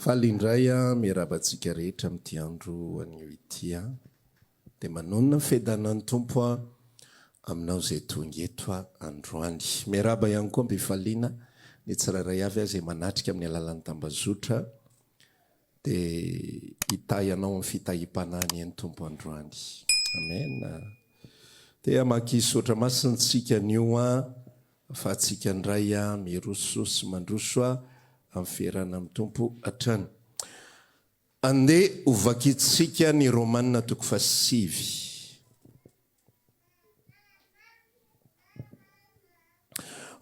Faly indray miarahaba antsika rehetra amin'ity andro anio ity. Dia manonona ny fiadanan'ny Tompo aminao izay tonga eto androany. Miarahaba ihany koa am-pifaliana ny tsirairay avy izay manatrika amin'ny alalan'ny tambazotra Dia hitahy anao amin'ny fitahiam-panahy anie ny Tompo androany. Amen. Te hamakisotra masintsika anio aho fa antsika indray miroso sy mandroso amin'ny fierana amin'ny Tompo hatrany. Andeha ho vakintsika ny Romana toko fahasivy.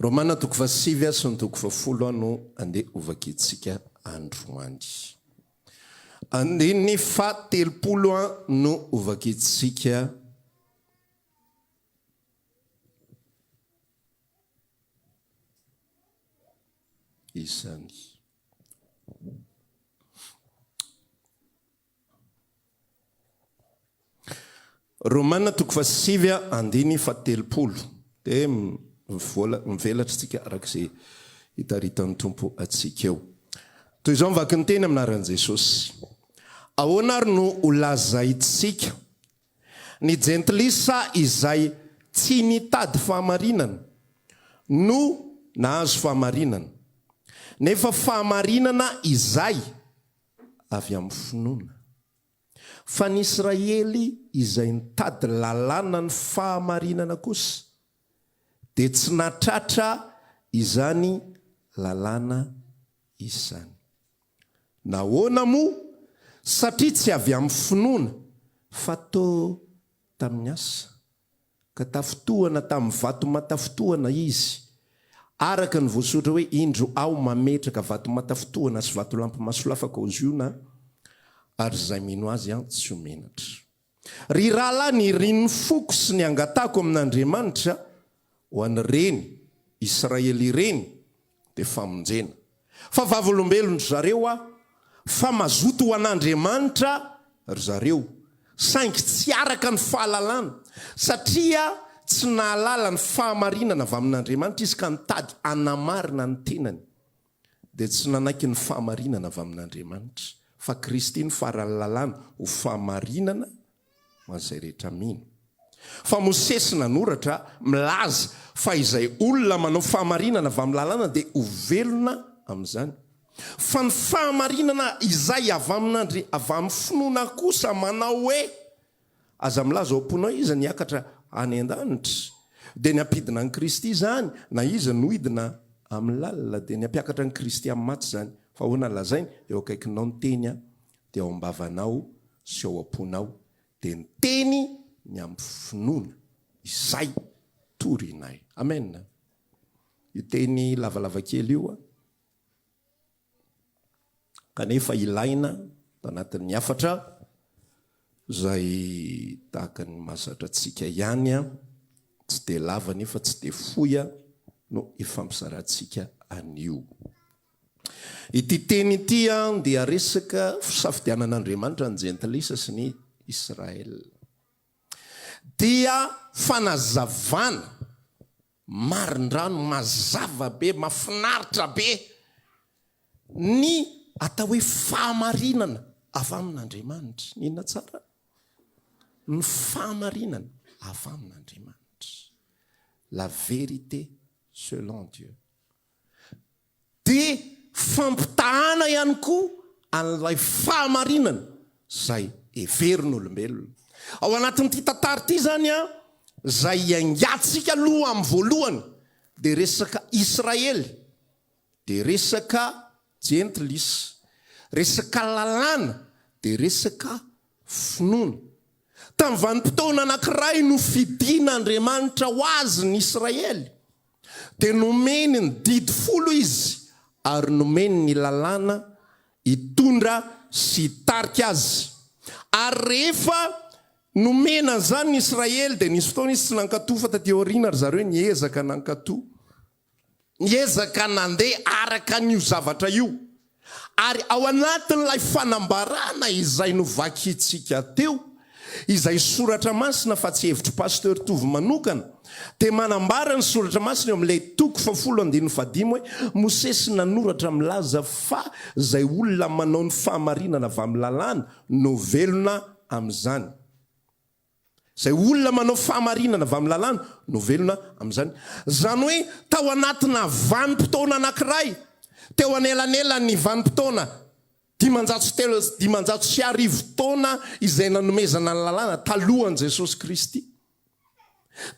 Romana toko fahasivy sy ny toko fahafolo no andeha hovakintsika androany. Andininy fahatelopolo no hovakintsika izany. Romana toko fahasivy andiny fahatelopolo dia mivelatra isika araka izay hitaritan'ny Tompo antsika eo. Toy izao ny vakin'ny teny amin'ny anaran'i Jesosy. Ahoana ary no holazaintsika ny jentilisa izay tsy nitady fahamarinana no nahazo fahamarinana, nefa fahamarinana izay avy amin'ny finoana fa ny Israely izay nitady lalàna ny fahamarinana kosa dia tsy nahatratra izany lalàna izany. Nahoana moa? Satria tsy avy amin'ny finoana fa toa tamin'ny asa. ka tafintohana tamin'ny vatomatafintohana izy, araka ny voasoratra hoe, Indro Aho mametraka vatomatafintohana sy vatolampy masolafaka ao Ziona, ary izay mino azy tsy ho menatra. Ry rahalahy, nirin'ny foko sy ny angatahiko amin'Andriamanitra ho an'ireny Israely ireny dia famonjena. Fa vavolombelon-dry zareo aho, fa mazoto ho an'Andriamanitra ry zareo, saingy tsy araka ny fahalalana, satria tsy nahalala ny fahamarinana avy amin'Andriamanitra izy ka nitady hanamarina ny tenany, dia tsy nanaiky ny fahamarinana avy amin'Andriamanitra, fa Kristy no faran'ny lalàna ho fahamarinana Ho an'izay rehetra mino. Fa Mosesy nanoratra, milaza, fa izay olona manao fahamarinana avy amin'ny Lalàna dia ho velona amin'izany. Fa ny fahamarinana izay avy amin'Andri, avy amin'ny finoana kosa manao hoe, Aza milaza ao am-ponao iza no hiakatra any an-danitra, dia ny hampidina an'i Kristy izany, na iza no hidina amin'ny lalina, dia ny hampiakatra an'i Kristy amin'ny maty izany. Fa ahoana lazainy, Eo akaikinao ny teny dia ao am-bavanao sy ao am-ponao, dia miteny ny amin'ny finoana izay torinay. Amen. Io teny lavalava kely io an, kanefa ilaina tao anatin'ny hafatra izay tahaka ny mahazatra antsika ihany an, tsy dia lava nefa tsy dia fohy an, no ifampizarantsika an'io. Ity teny ity dia resaka fisafidianan'Andriamanitra ny Jentilisa sy ny Israel. Dia fanazavana marindrano mazava be, mafinaritra be ny atao hoe fahamarinana avy amin'Andriamanitra. Inona tsara? Ny fahamarinana avy amin'Andriamanitra. La vérité selon Dieu. dia fampitahàna ihany koa an'ilay fahamarinana izay heverin'olombelona. Ao anatin'ity tantara ity izany, izay hiaingantsika aloha amin'ny voalohany dia resaka Israely, dia resaka Jentlis, resaka lalàna, dia resaka finoana. Tamin'ny vanim-potoana anankiray, nofidin'Andriamanitra ho azy ny Israely, dia nomeny ny didy folo izy ary nomeny ny lalàna hitondra sy hitarika azy. Ary rehefa nomena an'izany ny Israely dia nisy fotoana izy tsy nankatò fa taty aoriana ry zareo niezaka nankatò, niezaka nandeha araka an'io zavatra io. Ary ao anatin'ilay fanambarana izay novakintsika teo, izay soratra masina fa tsy hevitr'i Pasteur Tovo manokana, dia manambara ny soratra masina eo amin'ilay toko fahafolo andininy fahadimy hoe, Mosesy nanoratra milaza fa izay olona manao ny fahamarinana avy amin'ny lalàna no velona amin'izany. Izay olona manao fahamarinana avy amin'ny Lalàna no velona amin'izany. Izany hoe tao anatina vanim-potoana anankiray teo anelanelan'ny vanim-potoana dimanjato sy telo sy dimanjato sy arivo taona izay nanomezana ny Lalàna talohan'i Jesosy Kristy.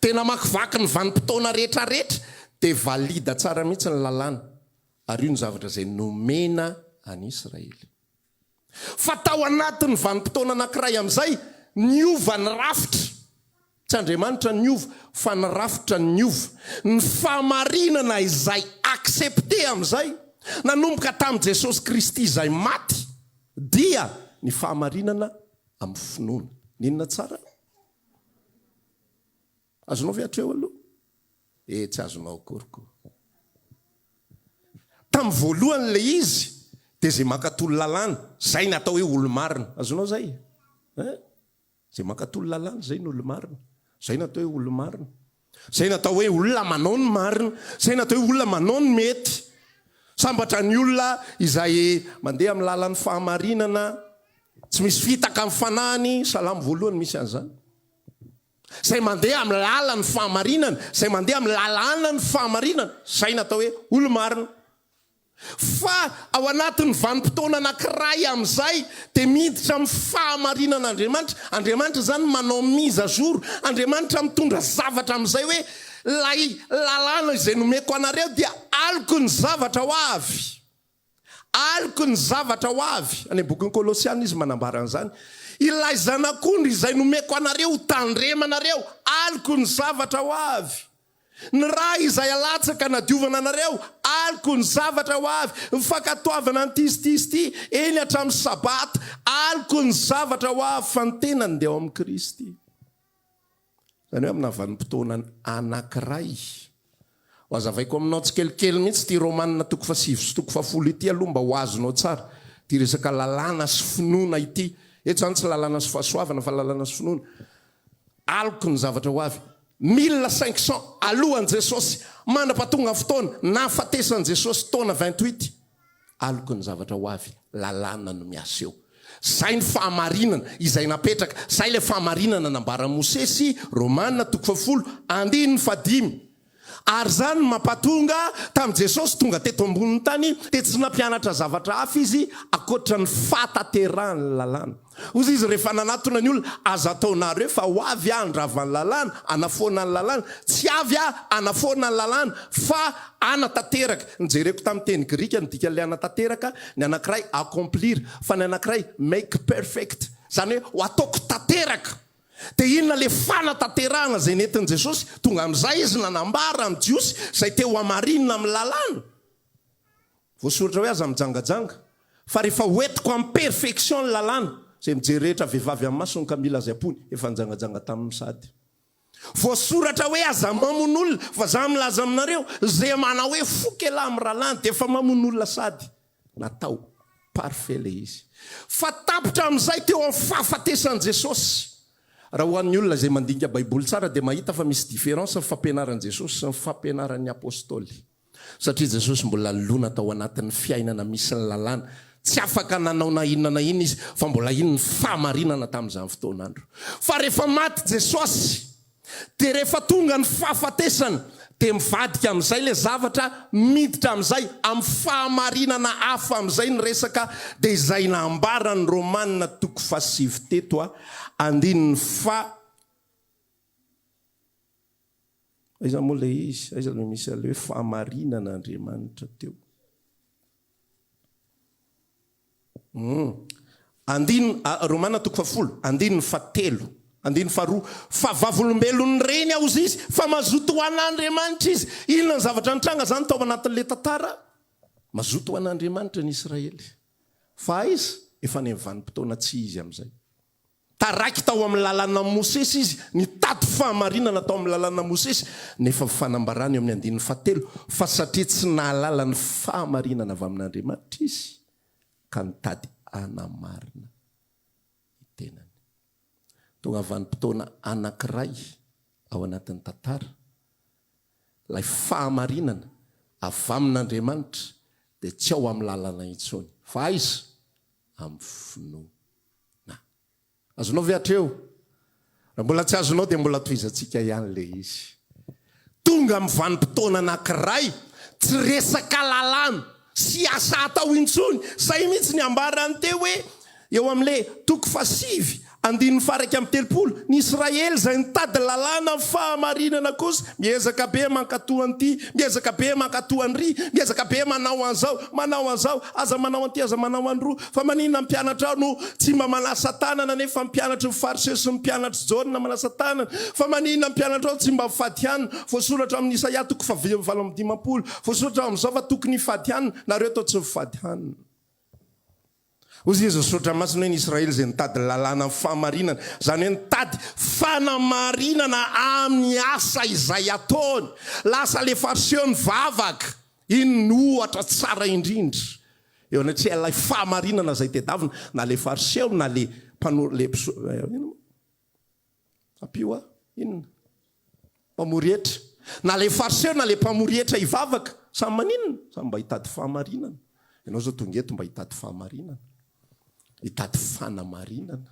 Dia namakivaky ny vanim-potoana rehetrarehetra dia valida tsara mihitsy ny Lalàna. Ary io ny zavatra izay nomena an'Israely. fa tao anatin'ny vanim-potoana anankiray amin'izay, niova ny rafitra. Tsy Andriamanitra no niova, fa ny rafitra no niova. Ny fahamarinana izay accepté amin'izay, nanomboka tamin'i Jesosy Kristy izay maty, dia ny fahamarinana amin'ny finoana. Nina tsara? Azonao ve hatreo aloha? Eh tsy azonao akory ko. Tamin'ny voalohany ilay izy dia izay mankatò ny lalàna, izay no atao hoe olo-marina. Azonao izay? Eh? Izay mankatò ny lalàna izay no olo-marina. Izay no atao hoe olo-marina. Izay no atao hoe olona manao ny marina. Izay no atao hoe olona manao ny mety. Sambatra ny olona izay mandeha amin'ny lalan'ny fahamarinana, tsy misy fitaka amin'ny fanahiny, Salamo voalohany misy an'izany. Izay mandeha amin'ny lalan'ny fahamarinana, izay mandeha amin'ny lalànan'ny fahamarinana, izay no atao hoe olo-marina. Fa ao anatin'ny vanim-potoana anankiray amin'izay dia miditra amin'ny fahamarinan'Andriamanitra. Andriamanitra izany manao mise à jour. Andriamanitra mitondra zavatra amin'izay hoe, ilay lalàna izay nomeko anareo dia aloky ny zavatra ho avy. Aloky ny zavatra ho avy, any am-bokin'ny Kolosiana izy manambara an'izany, ilay Zanak'ondry izay nomeko anareo ho tandremanareo, aloky ny zavatra ho avy. Ny ra izay alatsaka nadiovana anareo, aloky ny zavatra ho avy. Ny fankatoavana ny tisitisity, eny hatramin'ny Sabata, aloky ny zavatra ho avy, fa ny tenany dia ao amin'i Kristy. Izany hoe amina vanim-potoana anankiray. Ho azavaiko aminao tsikelikely mihitsy ity Romana toko fahasivy sy toko fahafolo ity aloha mba ho azonao tsara. Ity resaka lalàna sy finoana ity. Eto izany tsy lalàna sy fahasoavana fa lalàna sy finoana. Aloky ny zavatra ho avy. Mille cinq cents alohan'i Jesosy. Mandrapatongan'ny fotoana nahafatesan'i Jesosy, taona vingt-huit. Aloky ny zavatra ho avy, lalàna no miasa eo. Zay ny fahamarinana, izay napetraka, zay ilay fahamarinana nambaran'i Mosesy, Romana, toko fahafolo, andininy fahadimy. Ary izany no mampatonga, tamin'i Jesosy tonga teto ambonin'ny tany, dia tsy nampianatra zavatra hafa Izy ankoatra ny fahatanterahan'ny lalàna. Hozy izy rehefa nanatona ny olona, Aza ataonareo fa ho avy aho handrava ny lalàna, hanafoana ny lalàna. Tsy avy aho hanafoana ny lalàna, fa hanatanteraka. Ny jereko tamin'ny teny grika, ny dikan'ilay hanatanteraka, ny anankiray accomplir, fa ny anankiray make perfect, izany hoe ho ataoko tanteraka. Dia inona ilay fanatanterahana izay nentin'i Jesosy? Tonga amin'izay izy nanambara amin'ny Jiosy izay te ho hamarinina amin'ny lalàna. Voasoratra hoe aza mijangajanga, fa rehefa ho entiko am perfection ny lalàna, izay mijery rehetra vehivavy am masony ka mila izay ampony, efa nijangajanga taminy sady. Voasoratra hoe aza mamono olona, fa za milaza aminareo, izay manao hoe foko elah am rahalahiny dia efa mamono olona sady. Natao. Parfait ilay izy. Fa tapitra am izay teo am fahafatesan Jesosy. Raha ho an'ny olona izay mandinika baiboly tsara dia mahita fa misy différence ny fampianaran Jesosy sy ny fampianaran'ny apostoly. Satria Jesosy mbola lona tao anatin'ny fiainana misy ny lalàna, tsy afaka nanao na inona na inona izy fa mbola iny ny fahamarinana tamin'izany fotoan'andro. Fa rehefa maty Jesosy, dia rehefa tonga ny fahafatesana, dia mivadika amin'izay ilay zavatra, miditra amin'izay, amin'ny fahamarinana hafa amin'izay ny resaka, dia izay nambaran'ny Romana toko fahasivy teto, andininy faha. Aiza moa ilay izy? Aiza no misy an'ilay hoe fahamarinana Andriamanitra teo? Hmm. Andin, Romana toko fahafolo, andininy fahatelo, andininy faharoa. Fa vavolombelon'ny reny aozy izy, fa mazoto ho an'Andriamanitra izy. Inona ny zavatra nitranga izany tao anatin'ilay tantara? Mazoto ho an'Andriamanitra ny Israely. Fa aiza? Efa any amin'ny vanim-potoana tsy izy amin'izay. Taraiky tao amin'ny Lalànan'i Mosesy izy, nitady fahamarinana tao amin'ny Lalànan'i Mosesy, nefa fanambarana eo amin'ny andininy fahatelo fa satria tsy nahalala ny fahamarinana avy amin'Andriamanitra izy ka nitady hanamarina ny tenany. Tonga vanim-potoana anankiray ao anatin'ny tantara, ilay fahamarinana avy amin'Andriamanitra dia tsy ao amin'ny lalana intsony, fa aiza? Amin'ny finoana. Na. Azonao ve hatreo? Raha mbola tsy azonao dia mbola tohizantsika ihany ilay izy. Tonga amin'ny vanim-potoana anankiray tsy resaka lalàna sy asa atao intsony. Izay mihitsy ny ambaran'ny teo hoe eo amin'ilay toko fahasivy andininy faharaika amby telopolo. Ny Israely izay nitady lalàna ny fahamarinana kosa miezaka be mankato an'ity, miezaka be mankato an'iry, miezaka be manao an'izao, manao an'izao, aza manao an'ity, aza manao an'iroa. Fa maninona ny mpianatrao no tsy mba manasa tanana nefa ny mpianatry ny Fariseo sy ny mpianatr'i Jaona manasa tanana? Fa maninona ny mpianatrao tsy mba mifady hanina? Voasoratra ao amin'ny Isaia toko faha valo amby dimampolo, voasoratra ao amin'izao fa tokony hifady hanina, nareo toa tsy mifady hanina. Hoy Jesoa ny Soratra Masina hoe ny Israely izay nitady ny lalàna ny fahamarinana, izany hoe nitady fanamarinana amin'ny asa izay ataony. Lasa ilay Fariseo nivavaka. Inona no ohatra tsara indrindra eo anatrehan'ilay fahamarinana izay tedavina, na ilay Fariseo na ilay mpanolo, ilay mpisolo, eh, inona moa? Ampio ahy, inona? Mpamory hetra. Na ilay Fariseo na ilay mpamory hetra hivavaka, samy maninona? Samy mba hitady fahamarinana. Ianao izao tonga eto mba hitady fahamarinana, hitady fanamarinana.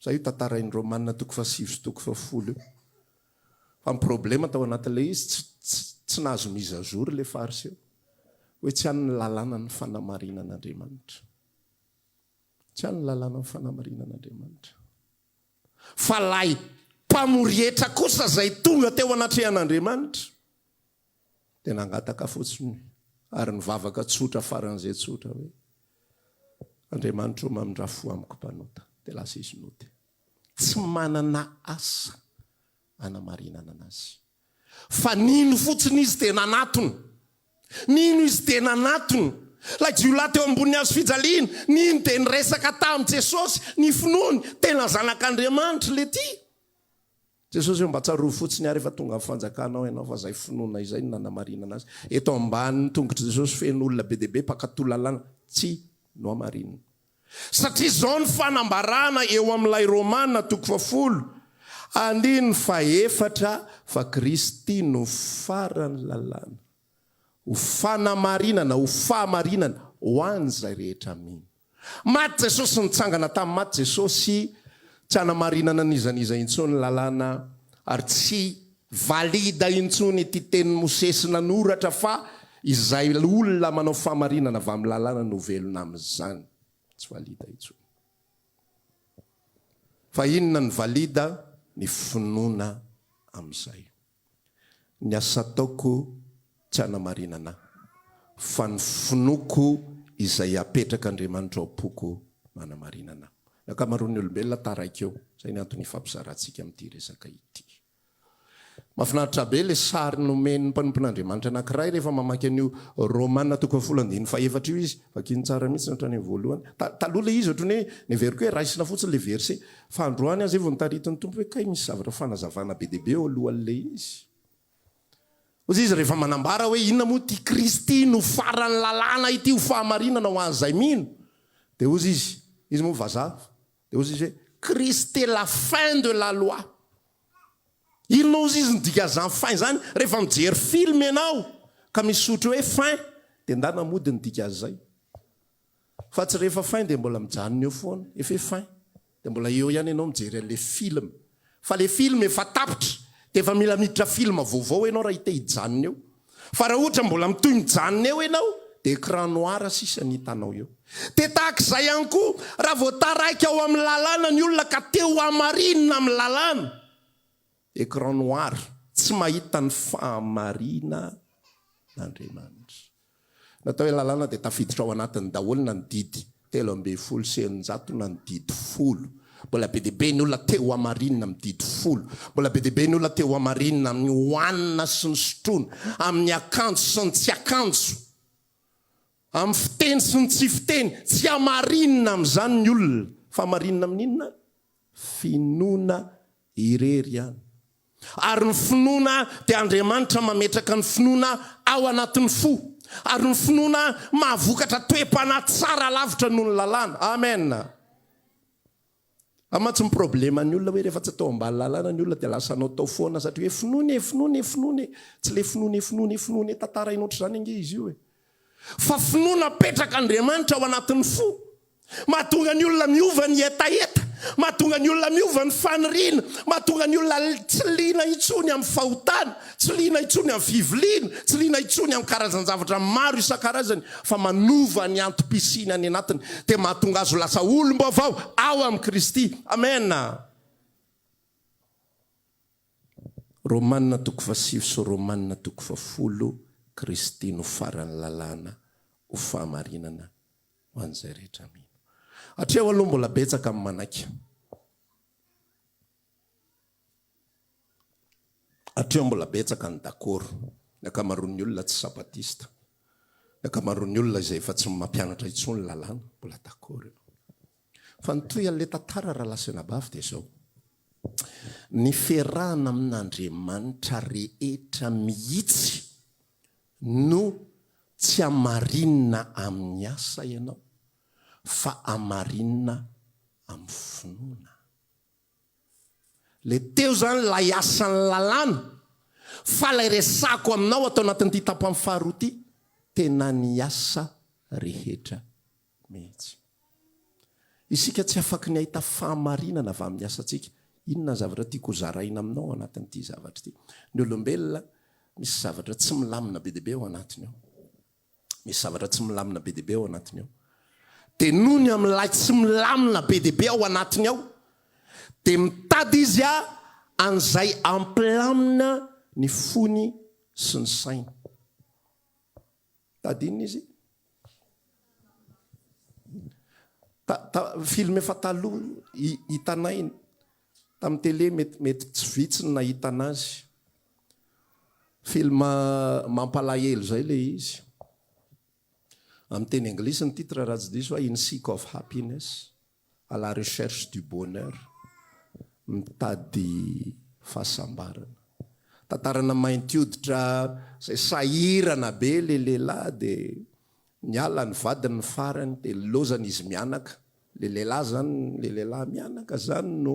Sa io tantarain'i Romana toko fahasivy sy toko fahafolo io? Fa ny problema tao anatin'ilay izy tsy tsy nahazo mise à jour ilay fariseo hoe tsy an'ny lalàna ny fanamarinan'Andriamanitra. Tsy an'ny lalàna ny fanamarinan'Andriamanitra. Fa ilay mpamory hetra kosa izay tonga teo anatrehan'Andriamanitra. dia nangataka fotsiny ary nivavaka tsotra faran'izay tsotra hoe, Andriamanitro mamindrà fo amiko mpanota. Dia lasa izy nody. Tsy manana asa anamarinana anazy. Fa nino fotsiny izy dia nanatona. Nino izy dia nanatona. Ilay jiolahy teo ambonin'ny hazo fijaliana, nino dia niresaka tamin'i Jesosy ny finoany. Tena Zanak'Andriamanitra ilay ity. Jesosy o, mba tsarovy fotsiny ary efa tonga ny fanjakanao ianao fa izay finoana izay no nanamarinana azy. Eto ambanin'ny tongotr'i Jesosy feno olona be dia be mpankatò lalàna tsy nohamarinina. Satria izao no fanambarana eo amin'ilay Romana toko fahafolo andininy fahefatra fa Kristy no faran'ny lalàna. Ho fanamarinana, ho fahamarinana ho an'izay rehetra mino. Maty Jesosy, nitsangana tamin'ny maty Jesosy, tsy hanamarinana n'iza n'iza intsony ny lalàna, ary tsy valide intsony ity tenin'i Mosesy nanoratra fa izay olona manao fahamarinana avy amin'ny lalàna no velona amin'izany. Tsy valide intsony. Fa inona no valide? Ny finoana amin'izay. Ny asa ataoko tsy hanamarinana ahy, fa ny finoako izay apetrak'Andriamanitra ao am-poko no hanamarinana ahy. Ny ankamaroan'ny olombelona taraiky eo, izay ny antony hifampizarantsika amin'ity resaka ity. Mahafinaritra be ilay sary nomen'ny mpanompon'Andriamanitra anankiray rehefa mamaky an'io Romana toko fahafolo andininy fahefatra io izy, vakiny tsara mihitsy ny hatrany amin'ny voalohany, taloha ilay izy ohatran'ny hoe neveriko hoe raisina fotsiny ilay verset, Fa androany aza e vao nitarity ny Tompo hoe kay misy zavatra fanazavana be dia be eo alohan'ilay izy. Hozy izy rehefa manambara hoe inona moa ity Kristy no faran'ny lalàna ity ho fahamarinana ho an'izay mino. Dia hozy izy, izy moa vazaha, dia hozy izy hoe Christ est la fin de la loi. Inona hozy izy ny dikan'izany fin izany? Rehefa mijery film ianao ka misy soritry hoe fin dia ndana mody ny dikan'izay. Fa tsy rehefa fin dia mbola mijanona eo foana. Efa hoe fin dia mbola eo ihany ianao mijery an'ilay film. Fa ilay film efa tapitra dia efa mila miditra film vaovao ianao raha te hijanona eo. Fa raha ohatra mbola mitohy mijanona eo ianao dia écran noir sisa ny hitanao eo. Dia tahaka izay ihany koa raha vao taraiky ao amin'ny lalàna ny olona ka te ho hamarinina amin'ny lalàna. Ecran noir, tsy mahita ny fahamariana n'Andriamanitra. Natao hoe lalàna dia tafiditra ao anatiny daholo na ny didy telo ambin'ny folo sy eninjato na ny didy folo. Mbola be dia be ny olona te ho hamarinina amin'ny didy folo. Mbola be dia be ny olona te ho hamarinina amin'ny hohanina sy ny sotroina, amin'ny akanjo sy ny tsy akanjo, amin'ny fiteny sy ny tsy fiteny. Tsy hamarinina amin'izany ny olona. Fa hamarinina amin'inona ary? Finoana irery ihany. Ary ny finoana dia Andriamanitra mametraka ny finoana ao anatin'ny fo. Ary ny finoana mahavokatra toe-panahy tsara lavitra noho ny lalàna. Amen. Ary mantsy ny problème ny olona hoe rehefa tsy atao ambany lalàna ny olona dia lasa anao tao foana satria hoe finoana e, finoana e, finoana e. Tsy ilay finoana e, finoana e, finoana e, tantarainao ohatr'izany ange izy io e. Fa finoana apetraka Andriamanitra ao anatin'ny fo. Mahatonga ny olona miova ny hetaheta. Mahatonga ny olona miova ny faniriana. Mahatonga ny olona tsy liana intsony amin'ny fahotana. Tsy liana intsony amin'ny fiviliana. Tsy liana intsony amin'ny karazan-javatra maro isan-karazany. Fa manova ny antom-pisiany any anatiny. Dia mahatonga azy ho lasa olom-baovao ao amin'i Kristy. Amena. Romanina toko fahasivy sy Romanina toko fahafolo Kristy no faran'ny lalàna ho fahamarinana ho an'izay rehetra mino. Hatreo aloha mbola betsaka ny manaiky. Hatreo mbola betsaka ny dakoro. Ny ankamaroan'ny olona tsy Sabatista. Ny ankamaroan'ny olona izay efa tsy mampianatra intsony ny lalàna, mbola dakoro eo. Fa ny tohian'ilay tantara Ralasenabavy dia izao, ny fiarahana amin'Andriamanitra rehetra mihitsy no tsy hamarinina amin'ny asa ianao fa hamarinina amin'ny finoana. Ilay teo izany ilay asan'ny lalàna, fa ilay resahako aminao ato anatin'ity tapany faharoa ity, tena ny asa rehetra mihitsy. Isika tsy afaky ny hahita fahamarinana avy amin'ny asantsika. Inona ny zavatra tiako hozaraina aminao ao anatin'ity zavatra ity? Ny olombelona, misy zavatra tsy milamina be dia be ao anatiny ao. Misy zavatra tsy milamina be dia be ao anatiny ao. Dia noho ny amin'ilay tsy milamina be dia be ao anatiny ao, dia mitady izy a, an'izay hampilamina ny fony sy ny sainy. Tady inona izy? Film efa taloha hitanay tamin'ny télé mety mety tsy vitsy ny nahita anazy. Film mampalahelo zay ilay izy. Amin'ny teny anglisy ny titre raha tsy diso hoe In Seek of Happiness. à la recherche du bonheur, mitady fahasambarana. Tantarana mainty hoditra izay sahirana be ilay lehilahy dia niala ny vadiny ny farany dia nilaozany izy mianaka, ilay lehilahy izany, ilay lehilahy mianaka izany no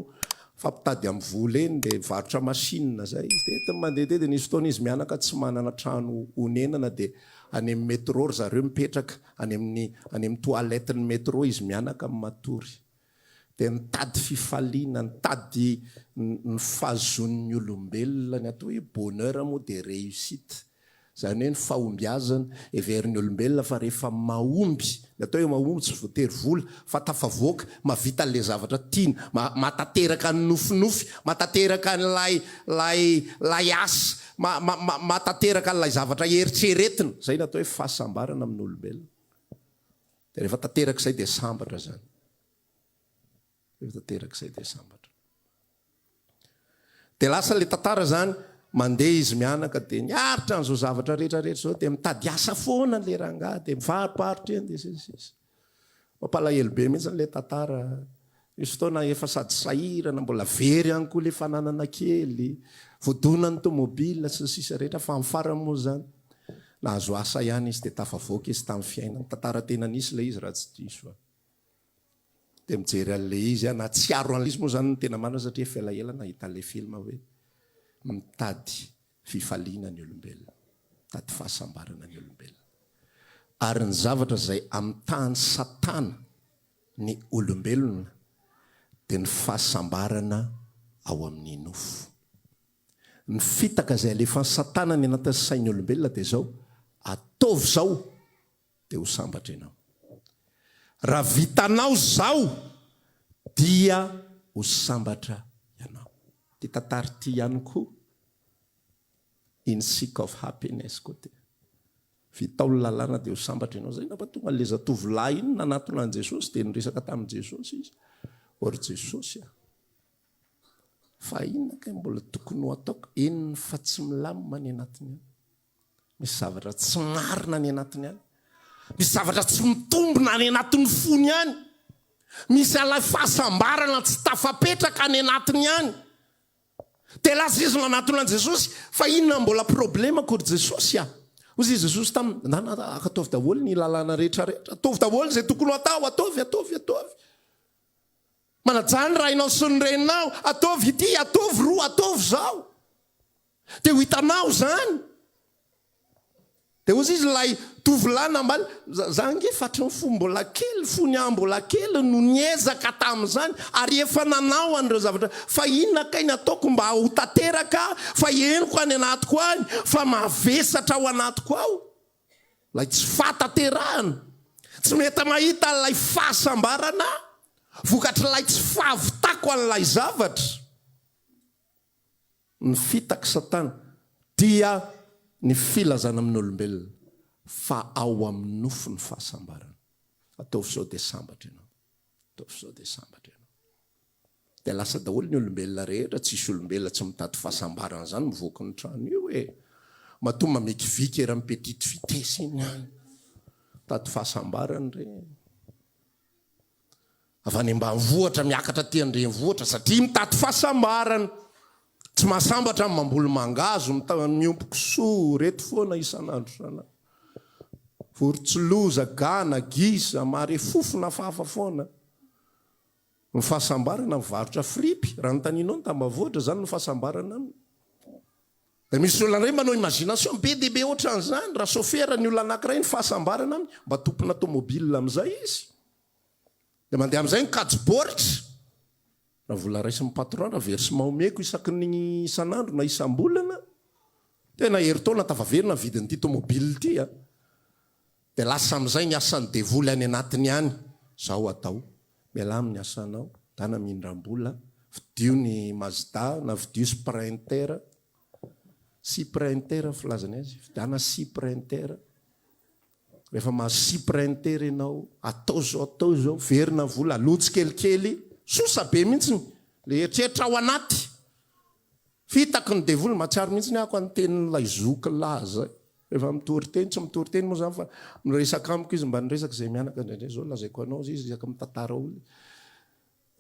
mifampitady amin'ny vola eny dia mivarotra machine izay izy dia entiny mandeha dia nisy fotoana izy mianaka tsy manana trano honenana dia any amin'ny metro ry zareo mipetraka Any amin'ny any amin'ny toiletten'ny metro izy mianaka amin'ny matory. Dia nitady fifaliana, nitady ny fahazoan'ny olombelona, ny atao hoe bonheur moa dia réussite. Izany hoe ny fahombiazana. Heverin'ny olombelona fa rehefa mahomby, ny atao hoe mahomby tsy voatery vola, fa tafavoaka, mahavita an'ilay zavatra tiana, mahatateraka ny nofinofy, mahatateraka an'ilay ilay ilay asa, mahatanteraka an'ilay zavatra eritreretina. Izay no atao hoe fahasambarana amin'ny olombelona. Dia rehefa tanteraka izay dia sambatra izany. Rehefa tanteraka izay dia sambatra. Dia lasa ilay tantara izany, mandeha izy mianaka dia niaritra an'izao zavatra rehetra rehetra izao dia mitady asa foana ilay rangahy dia mifaroparotra eny dia sy ny sisa. Mampalahelo be mihitsy ilay tantara. Misy fotoana efa sady sahirana, mbola very ihany koa ilay fananana kely, voadonan'ny tomobile sy ny sisa rehetra fa amin'ny farany moa izany nahazo asa ihany izy dia tafavoaka izy tamin'ny fiainany. Tantara tena nisy ilay izy raha tsy diso aho. Dia mijery an'ilay izy aho, nahatsiaro an'ilay izy moa izany ny tena marina satria efa elaela nahita an'ilay film hoe mitady fifaliana ny olombelona, mitady fahasambarana ny olombelona, ary ny zavatra izay amitahan'i Satana ny olombelona dia ny fahasambarana ao amin'ny nofo. Ny fitaka izay alefan'i Satana ny anatin'ny sain'ny olombelona dia izao, Ataovy izao dia ho sambatra ianao. Raha vitanao izao dia ho sambatra ianao. Ity tantara ity ihany koa, In Seek of Happiness koa dia, vitao ny lalàna dia ho sambatra ianao. Izay angamba tonga an'ilay zatovolahy iny nanatona an'i Jesosy dia niresaka tamin'i Jesosy izy hoe, Ry Jesosy a! Fa inona kay mbola tokony ho ataoko? Eny fa tsy milamina ny anatiny ao. Misy zavatra tsy marina any anatiny any. Misy zavatra tsy mitombina any anatin'ny fony any. Misy alay fahasambarana tsy tafapetraka any anatiny any. Dia lasa izy nanatona an'i Jesosy, fa inona no mbola problemako ry Jesosy a? Hoy i Jesosy taminy, ndana ataovy daholo ny lalàna rehetra rehetra, ataovy daholo izay tokony ho atao, ataovy, ataovy, ataovy. Manajà ny rainao sy ny reninao, ataovy ity, ataovy roa, ataovy izao. Dia ho hitanao izany! Dia hozy izy ilay tovolahy nambaly, za ange fatran'ny fo mbola kely, fony aho mbola kely no niezaka tamin'izany ary efa nanao an'ireo zavatra, fa inona kay ny ataoko mba ho tanteraka fa henoko any anatiko any fa mavesatra ao anatiko ao ilay tsy fahatanterahana, tsy mety mahita ilay fahasambarana vokatr'ilay tsy fahavitako an'ilay zavatra. ny fitaky satana dia ny filazana amin' ny olombelona fa ao amin' ny nofo ny fahasambarana. Ataovy izao dia sambatra ianao. Ataovy izao dia sambatra ianao. Dia lasa daholo ny olombelona rehetra, tsisy olombelona tsy mitady fahasambarana izany mivoaka ny trano io e! Matoa mamekiviky eran' ny petite vitesse iny an! Mitady fahasambarana ireny. avy any ambanivohitra miakatra aty an-drenivohitra satria mitady fahasambarana. Tsy mahasambatra ny mamboly mangahazo ny miompy kisoa ireto foana isan'andro isan'andro. Vorontsiloza, gana, gisa, marefofona fafa foana. Ny fahasambarana mivarotra fripy, raha notanianao ny tambavohitra izany no fahasambarana aminy. Dia misy olona indray manao imagination be dia be ohatran'izany, raha chauffeur ny olona anankiray ny fahasambarana aminy, mba tompona tomobile amin'izay izy, dia mandeha amin'izay ny kajy baoritra, raha vola raisin'ny patron, raha versement omeko isaky ny isan'andro na isam-bolana, tena herintaona tafaverina ny vidin'ity tomobile ity an! Dia lasa amin'izay ny asan'ny devoly any anatiny any, zao atao, mialà amin'ny asanao, dana mindram-bola, vidio ny mazda na vidio sprinter, sprinter filazany azy, vidiana sprinter, rehefa mahazo sprinter ianao, atao izao atao izao, verina vola, aloha tsikelikely, sosa be mihitsy ny eritreritra ao anaty, f'hitako ny devoly, mahatsiaro mihitsy ny ahy ko ny tenin'ilay zoky lahy zay, Efa mitory teny, tsy mitory teny moa zany fa miresaka amiko izy mba niresaka izay mianaka indraindray zao lazaiko anao izy resaka mitantara olona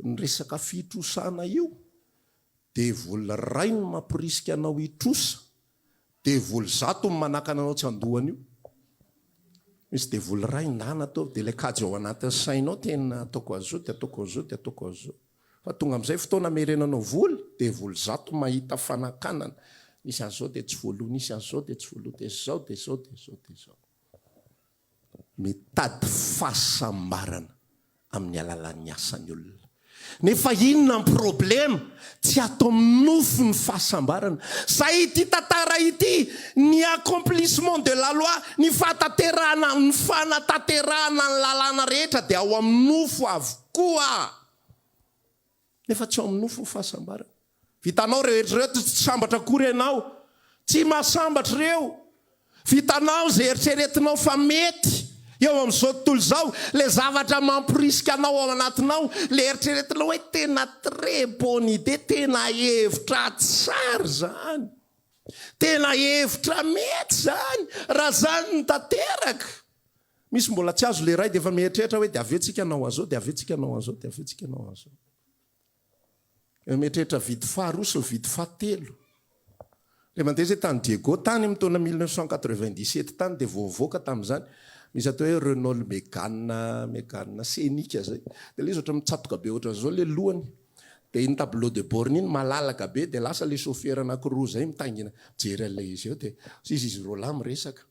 ny resaka fitrosana io devoly iray ny mamporisika anao hitrosa devoly zato ny manakana anao tsy handohana io misy devoly iray ndana ataovy dia ilay kajy ao anatin'ny sainao tena ataoko an'izao dia ataoko an'izao dia ataoko an'izao Fa tonga amin'izay fotoana amerenanao voly dia voly zato mahita fanakanana nisy an'izao dia tsy voaloha nisy an'izao dia tsy voaloha dia izao dia izao dia izao dia izao mitady fahasambarana amin'ny alalan'ny asa ny olona nefa inona ny problema tsy ato amin'ny nofo ny fahasambarana zay ity tantara ity ny accomplissement de la loi ny fahataterahana ny fanatanterahana ny lalàna rehetra dia ao amin'ny nofo avokoa Nefa tsy ao amin'ny nofo ny fahasambarana. Vitanao ireo hetra ireo, tsy sambatra akory ianao. Tsy mahasambatra ireo. Vitanao izay eritreretinao fa mety eo amin'izao tontolo izao. Ilay zavatra mamporisika anao ao anatinao, ilay eritreretinao hoe tena très bonne idée, tena hevitra tsara izany, tena hevitra mety izany raha izany no tanteraka. Misy mbola tsy azo leray dia efa mieritreritra hoe dia avy eo tsika hanao an'izao, dia avy eo tsika hanao an'izao, dia avy eo tsika hanao an'izao. Ilay mieritreritra vide faharoa sy ny vide fahatelo. Ilay mandeha izay tany Diego tany amin'ny taona 1997 tany dia vao nivoaka tamin'izany. Misy atao hoe Renault Megane, Megane Scenic izay. Dia ilay izy ohatran'ny mitsatoka be ohatran'izao ilay lohany. Dia iny tableau de bord iny malalaka be dia lasa ilay chauffeur anankiroa izay mitaingina mijery an'ilay izy eo dia izy izy roalahy miresaka.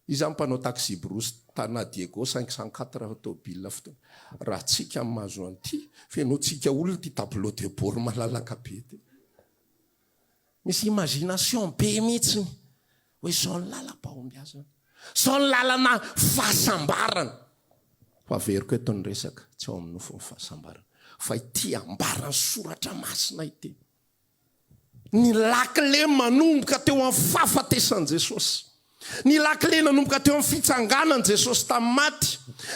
Iza ny mpanao taxi-brousse tana Diego cinq cent quatre tôbila fotoana raha tsika ny mahazo an'ity fenotsika olona ity tableau de bord malalaka be ity. Misy imagination be mihitsiny hoe zao ny lalam-pahombiazana, zao ny lalana fahasambarana. Ho averiko eto ny resaka tsy ao amin'ny nofo ny fahasambarana fa ity ambaran'ny soratra masina ity. Ny lakile manomboka teo amin'ny fahafatesan'i Jesosy. Ny lakile nanomboka teo amin'ny fitsanganan'i Jesosy tamin'ny maty.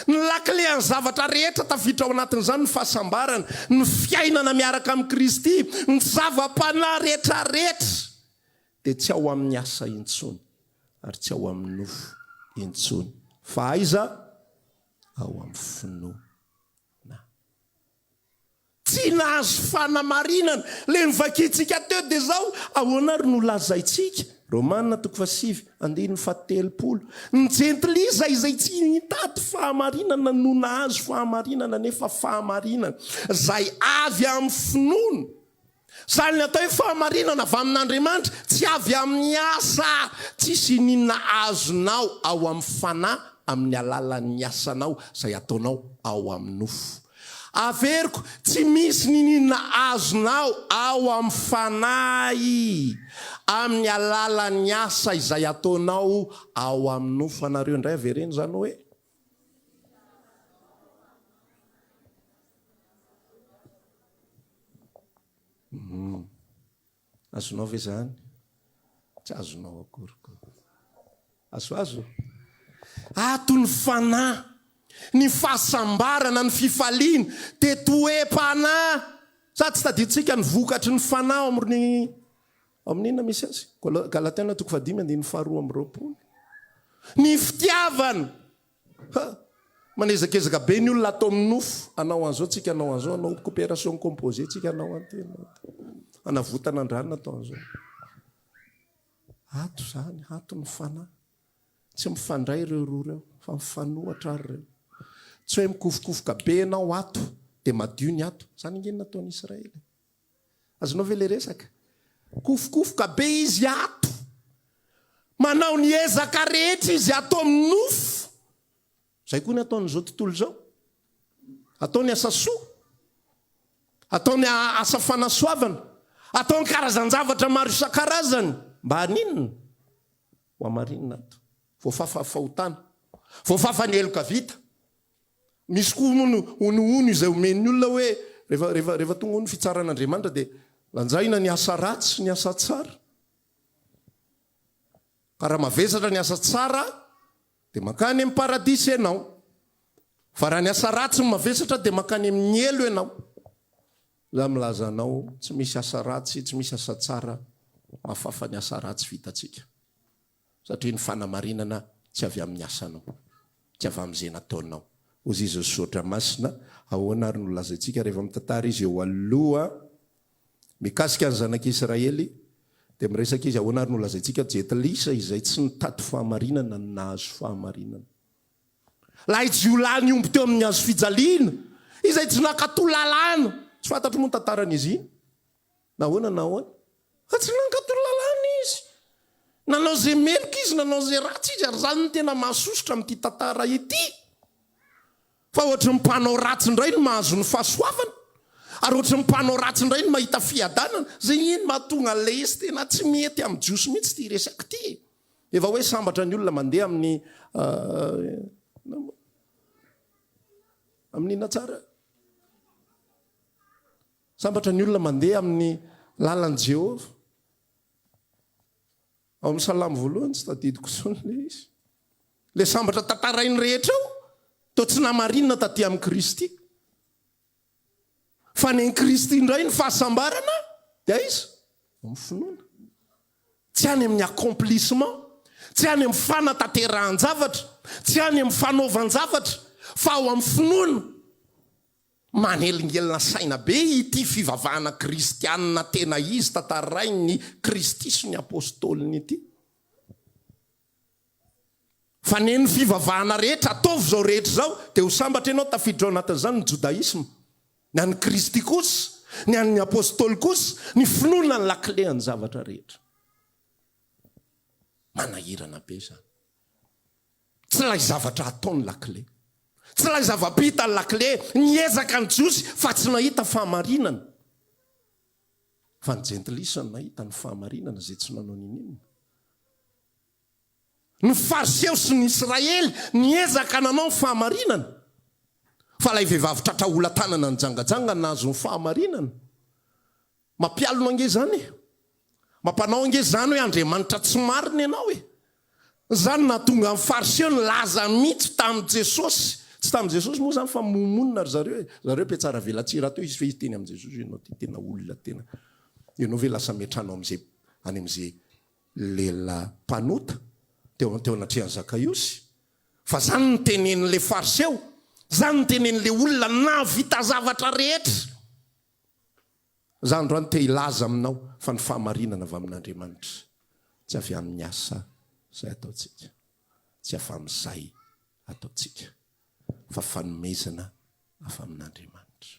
Ny lakile an'ny zavatra rehetra tafiditra ao anatin'izany ny fahasambarana, ny fiainana miaraka amin'i Kristy. Ny zava-panahy rehetrarehetra dia tsy ao amin'ny asa intsony ary tsy ao amin'ny nofo intsony fa aiza? Ao amin'ny finoana. Tsy nahazo fanamarinana le novakintsika teo de zao ahoana ary no lazaintsika? Romana toko fahasivy andininy fahatelopolo Ny jentilisa izay tsy nitady fahamarinana no nahazo fahamarinana nefa fahamarinana zay avy amin'ny finoana Izany ny atao hoe fahamarinana avy amin'Andriamanitra, tsy avy amin'ny asa. Tsisy iniana azonao ao amin'ny fanahy amin'ny alalan'ny asanao izay ataonao ao amin'ny nofo. Averiko, tsy misy niniana azonao ao amin'ny fanahy amin'ny alalan'ny asa izay ataonao ao amin'ny nofo. Anareo indray avereno izany hoe. Humm. Azonao ve zany? Tsy azonao akory ko. Azoazo? Ato ny fanahy, ny fahasambarana, ny fifaliana dia toe-panahy sady tsy tadidintsika ny vokatry ny fanahy ao amin'ny ao amin'ny inona misy azy? Galatiana toko fahadimy andininy faharoa amby roapolo. Ny fitiavana, Ha! Manezakezaka be ny olona ato amin'ny nofo, hanao an'izao tsika, hanao an'izao, hanao coopération composée tsika, hanao an'ity, hanao an'ity. Hanavotana an-drano ato an'izao. Ato izany, ato ny fanahy. Tsy mifandray ireo roa ireo, fa mifanohatra ary ireo. Tsy hoe mikofokofoka be ianao ato, dia madio ny ato. Izany ange no nataon'i Israely. Azonao ve le resaka? Kofokofoka be izy ato. Manao ny ezaka rehetra izy ato amin'ny nofo. Izay koa ny ataon'izao tontolo izao. Ataony asa soa. Ataony asa fanasoavana. Ataony karazan-javatra maro isan-karazany. Mba haninona? Ho hamarinina ato. Voafafa ny fahotana. Voafafa ny heloka vita. Misy koa moa ny honohono izay omen'ny olona hoe rehefa rehefa rehefa tonga ao ny fitsaran'Andriamanitra dia lanjaina ny asa ratsy sy ny asa tsara. Ka raha mavesatra ny asa tsara dia mankany amin'ny paradisa ianao. Fa raha ny asa ratsy no mavesatra dia mankany amin'ny helo ianao. Za milaza anao tsy misy asa ratsy, tsy misy asa tsara mahafafa ny asa ratsy vitantsika. Satria ny fanamarinana tsy avy amin'ny asanao, tsy avy amin'izay nataonao. Hozy izy, Ry Zotra Masina, ahoana ary no lazaintsika rehefa mitantara izy eo aloha mikasika ny zanak'Israely, dia miresaka izy, ahoana ary no lazaintsika, Jetilisa izay tsy nitady fahamarinana no nahazo fahamarinana. Lahijiolahy nihombo teo amin'ny hazofijaliana, izay tsy nankatò lalàna. Tsy fantatro moa ny tantaran'izy iny. Nahoana na ahoana? Fa tsy nankatò ny Lalàna izy. Nanao izay meloka izy, nanao izay ratsy izy, ary izany no tena mahasosotra amin'ity tantara ity, fa ohatry ny mpanao ratsy indray no mahazo ny fahasoavana, ary ohatry ny mpanao ratsy indray no mahita fiadanana. Izay anie no mahatonga an'ilay izy, tena tsy mety amin'ny Jiosy mihitsy ity resaka ity e! Efa hoe sambatra ny olona mandeha amin'ny amin'inona tsara? Sambatra ny olona mandeha amin'ny lalan'i Jehovah. Ao amin'ny Salamo voalohany, tsy tadidiko intsony ilay izy. Ilay sambatra tantarainy rehetra ao, toa tsy namarinina tatỳ amin'i Kristy. Fa any amin'i Kristy indray ny fahasambarana, dia aiza? Ao amin'ny finoana. Tsy any amin'ny accomplissement, tsy any amin'ny fanatanterahan-javatra, tsy any amin'ny fanaovan-javatra, fa ao amin'ny finoana. Manelingelina saina be ity fivavahana kristianina tena izy tantarain'i Kristy sy ny Apostoliny ity. Fa neny fivavahana rehetra, ataovy izao rehetra izao, dia ho sambatra ianao tafiditra ao anatin'izany ny Jodaisma. Ny an'i Kristy kosa, ny an'ny Apostoly kosa, ny finoana ny lakilen'ny zavatra rehetra. Manahirana be izany. Tsy ilay zavatra atao ny lakile. Tsy ilay zava-bita ny lakile. Niezaka ny Jiosy fa tsy nahita fahamarinana. Fa ny Jentilisa no nahita ny fahamarinana, izay tsy nanao n'inon'inona. Ny Fariseo sy ny Israely niezaka nanao ny fahamarinana. Fa ilay vehivavy tratra ola-tanana nijangajanga no nahazo ny fahamarinana. Mampialona ange zany e! Mampanao ange zany hoe Andriamanitra tsy marina ianao e! Zany nahatonga an'i Fariseo nilaza mitsy tamin'i Jesosy, tsy tamin'i Jesosy moa zany fa momonina ry zareo e! Zareo mpiatsara velatsihy rahateo izy fe izy teny amin'i Jesosy hoe ianao ty tena olona tena, ianao ve lasa miantrano am'ze, any am'ze lela mpanota teo teo anatrehan'i Zakaiosy? Fa zany nitenenin'le Fariseo, zany nitenenin'le olona nahavita zavatra rehetra. Za androany te hilaza aminao fa ny fahamarinana avy amin'Andriamanitra, tsy avy amin'ny asa izay ataontsika, tsy avy amin'izay ataontsika, fa fanomezana avy amin'Andriamanitra.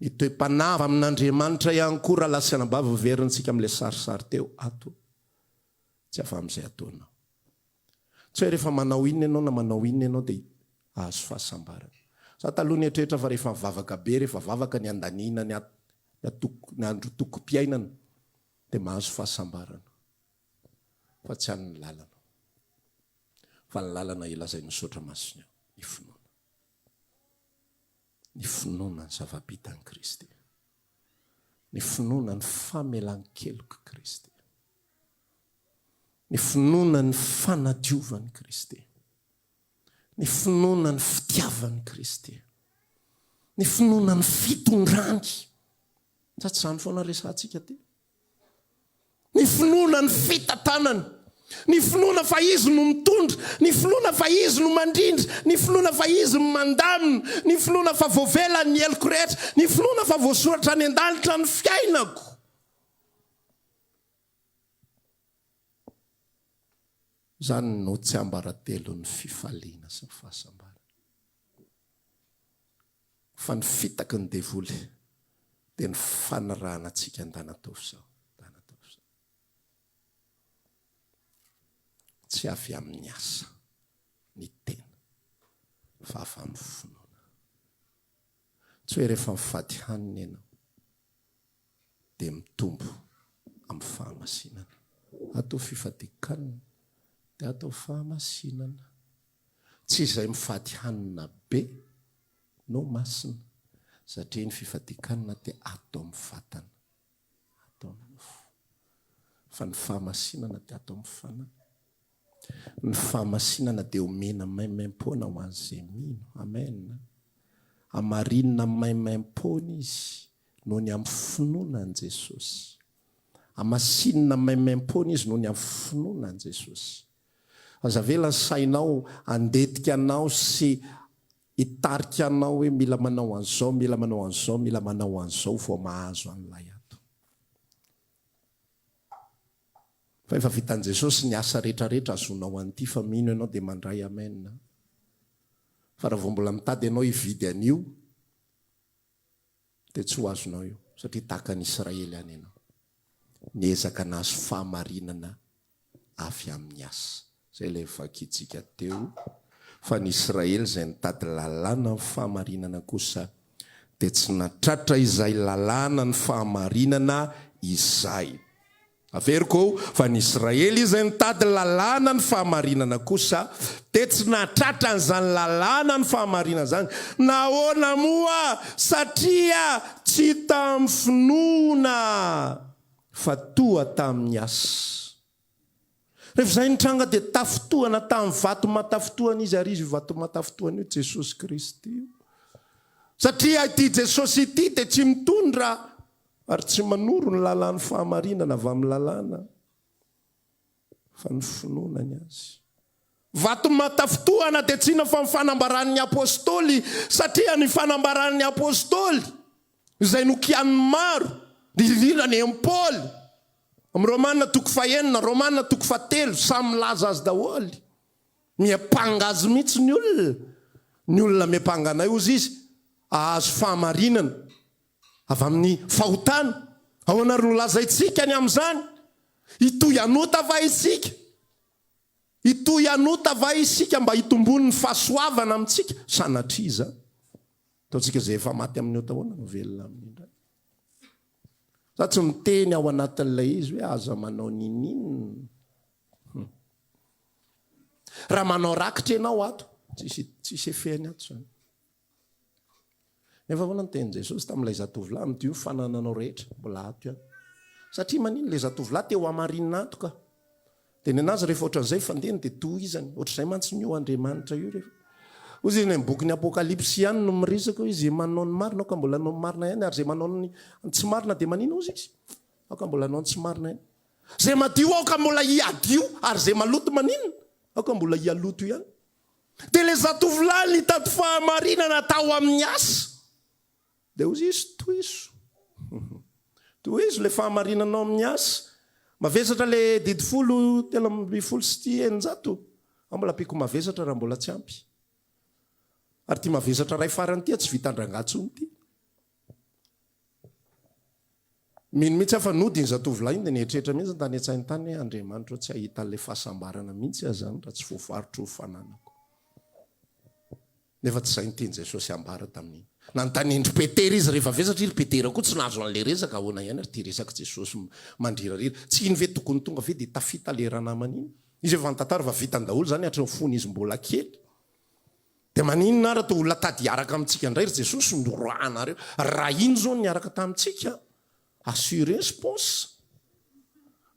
Ny toe-panahy avy amin'Andriamanitra ihany koa, raha lasanabavy verintsika amin'ilay sarisary teo ato, tsy avy amin'izay ataonao, Tsy hoe rehefa manao inona ianao na manao inona ianao dia hahazo fahasambarana. Za taloha nieritreritra fa rehefa mivavaka be, rehefa vavaka ny andaniana ny ny andro tokom-piainana dia mahazo fahasambarana. Fa tsy any ny lalana. Fa ny lalana ilazay misaotra masina io, ny finoana. ny finoana ny zava-bitan'i Kristy, ny finoana ny famelan-kelok'i Kristy, ny finoana ny fanadiovan'i Kristy, ny finoana ny fitiavan'i Kristy, ny finoana ny fitondrany. Sa tsy izany foana resahantsika aty? Ny finoana ny fitantanany. Ny finoana fa Izy no mitondra. Ny finoana fa Izy no mandrindra. Ny finoana fa Izy no mandamina. Ny finoana fa voavela ny heloko rehetra. Ny finoana fa voasoratra any an-danitra ny fiainako. Izany no tsiambaratelon'ny fifaliana sy ny fahasambarana. Fa ny fitaky ny devoly dia ny fanirahana antsika andanatoa f'izao, andanatoa f'izao. Tsy avy amin'ny asa ny tena fa avy amin'ny finoana. Tsy hoe rehefa mifady hanina ianao dia mitombo amin'ny fahamasinana. Ato fifadian-kanina dia ato fahamasinana. Tsy izay mifady hanina be no masina satria ny fifadian-kanina dia ato amin'ny vatana, ato amin'ny nofo. Fa ny fahamasinana dia ato amin'ny fanahy. Ny fahamasinana dia omena maimaim-poana ho an'izay mino. Amen. Hamarinina maimaim-poana izy noho ny amin'ny finoana an'i Jesosy. Hamasinina maimaim-poana izy noho ny amin'ny finoana an'i Jesosy. Aza avela ny sainao handetika anao sy hitarika anao hoe mila manao an'izao, mila manao an'izao, mila manao an'izao vao mahazo an'ilay ato. Fa efa vitan'i Jesosy ny asa rehetra rehetra azonao an'ity fa mino ianao dia mandray amen. Fa raha vao mbola mitady ianao hividy an'io, dia tsy ho azonao io, satria tahaka an'i Israely ihany ianao. Niezaka nahazo fahamarinana avy amin'ny asa. Izay ilay vakintsika teo, fa ny Israely izay nitady lalàna amin'ny fahamarinana kosa dia tsy nahatratra izay lalàna ny fahamarinana izay. Averiko ao fa ny Israely izay nitady ny lalàna ny fahamarinana kosa dia tsy nahatratra an'izany lalàna ny fahamarinana izany. Nahoana moa? Satria tsy tamin'ny finoana fa toa tamin'ny asa. Rehefa izay nitranga dia tafintohana tamin'ny vatomatafintohana izy ary izy io vatomatafintohana io Jesosy Kristy io. Satria ity Jesosy ity dia tsy mitondra Ary tsy manoro ny lalàn'ny fahamarinana avy amin'ny lalàna, fa ny finoana ny azy. Vato matafintohana dia tsy inona fa ny fanambaran'ny Apostoly, satria ny fanambaran'ny Apostoly, izay nokianin'ny maro, indrindra ny an'i Paoly, amin'ny Romana toko fahenina, Romana toko fahatelo, samy milaza azy daholo. Miampanga azy mihitsy ny olona, ny olona miampanga anay, hozy izy, hahazo fahamarinana. avy amin'ny fahotana. Ahoana ary no lazaintsika ny amin'izany? Hitohy hanota va isika? Hitohy hanota va isika mba hitomboan'ny fahasoavana amintsika? Sanatria izany. Ataontsika izay efa maty amin'ny ota ahoana no velona aminy indray. Za tsy miteny ao anatin'ilay izy hoe aza manao ninin. Hmm. Raha manao rakitra ianao ato, tsisy tsisy efeny ato zany. Nefa ahoana no tenin'i Jesosy tamin'ilay zatovolahy midio ny fanananao rehetra? Mbola ato ihany. Satria manin ilay zatovolahy te ho hamarinina antoka. Dia ny anazy rehefa ohatran'izay fandehany dia tohizany. Ohatr'izay mantsy ny io Andriamanitra io rehefa. Hoy izy any amin'ny bokin'ny Apokalypsy ihany no miresaka hoe izay manao ny marina aoka mbola hanao ny marina ihany ary izay manao ny tsy marina dia manina hozy izy? Aoka mbola hanao ny tsy marina ihany. Izay madio aoka mbola hiadio ary izay maloto maninona? Aoka mbola hialoto ihany. Dia ilay zatovolahy nitady fahamarinana tao amin'ny asa. Dia hoy izy, Tohizo. Tohizo ilay fahamarinanao amin'ny asa. Mavesatra ilay didy folo, telo ambin'ny folo sy ity eninjato. Aho mbola ampiako mavesatra raha mbola tsy ampy. Ary ity mavesatra iray farany ity tsy vitan-drangah intsony ity. Mino mihitsy aho fa nody iny zatovolahy iny dia nieritreritra mihitsy ny tany an-tsainy tany hoe Andriamanitra ô tsy hahita an'ilay fahasambarana mihitsy aho izany raha tsy voafaritro ny fananako. Nefa tsy izay ny tian'i Jesosy hambara tamin'iny. Nanontanian'dry Petera izy rehefa vesatra i ry Petera koa tsy nahazo an'ilay resaka, ahoana ihany ary ity resak'i Jesosy mandrirarira, tsy iny ve tokony tonga ve dia tafita ilay ranamana iny? Izy efa nitantara fa vitany daholo izany hatry ny fony izy mbola kely. Dia maninona ary atao olona tady hiaraka amintsika indray ry Jesosy noroahanareo? Raha iny izao no niaraka tamintsika, assurez pense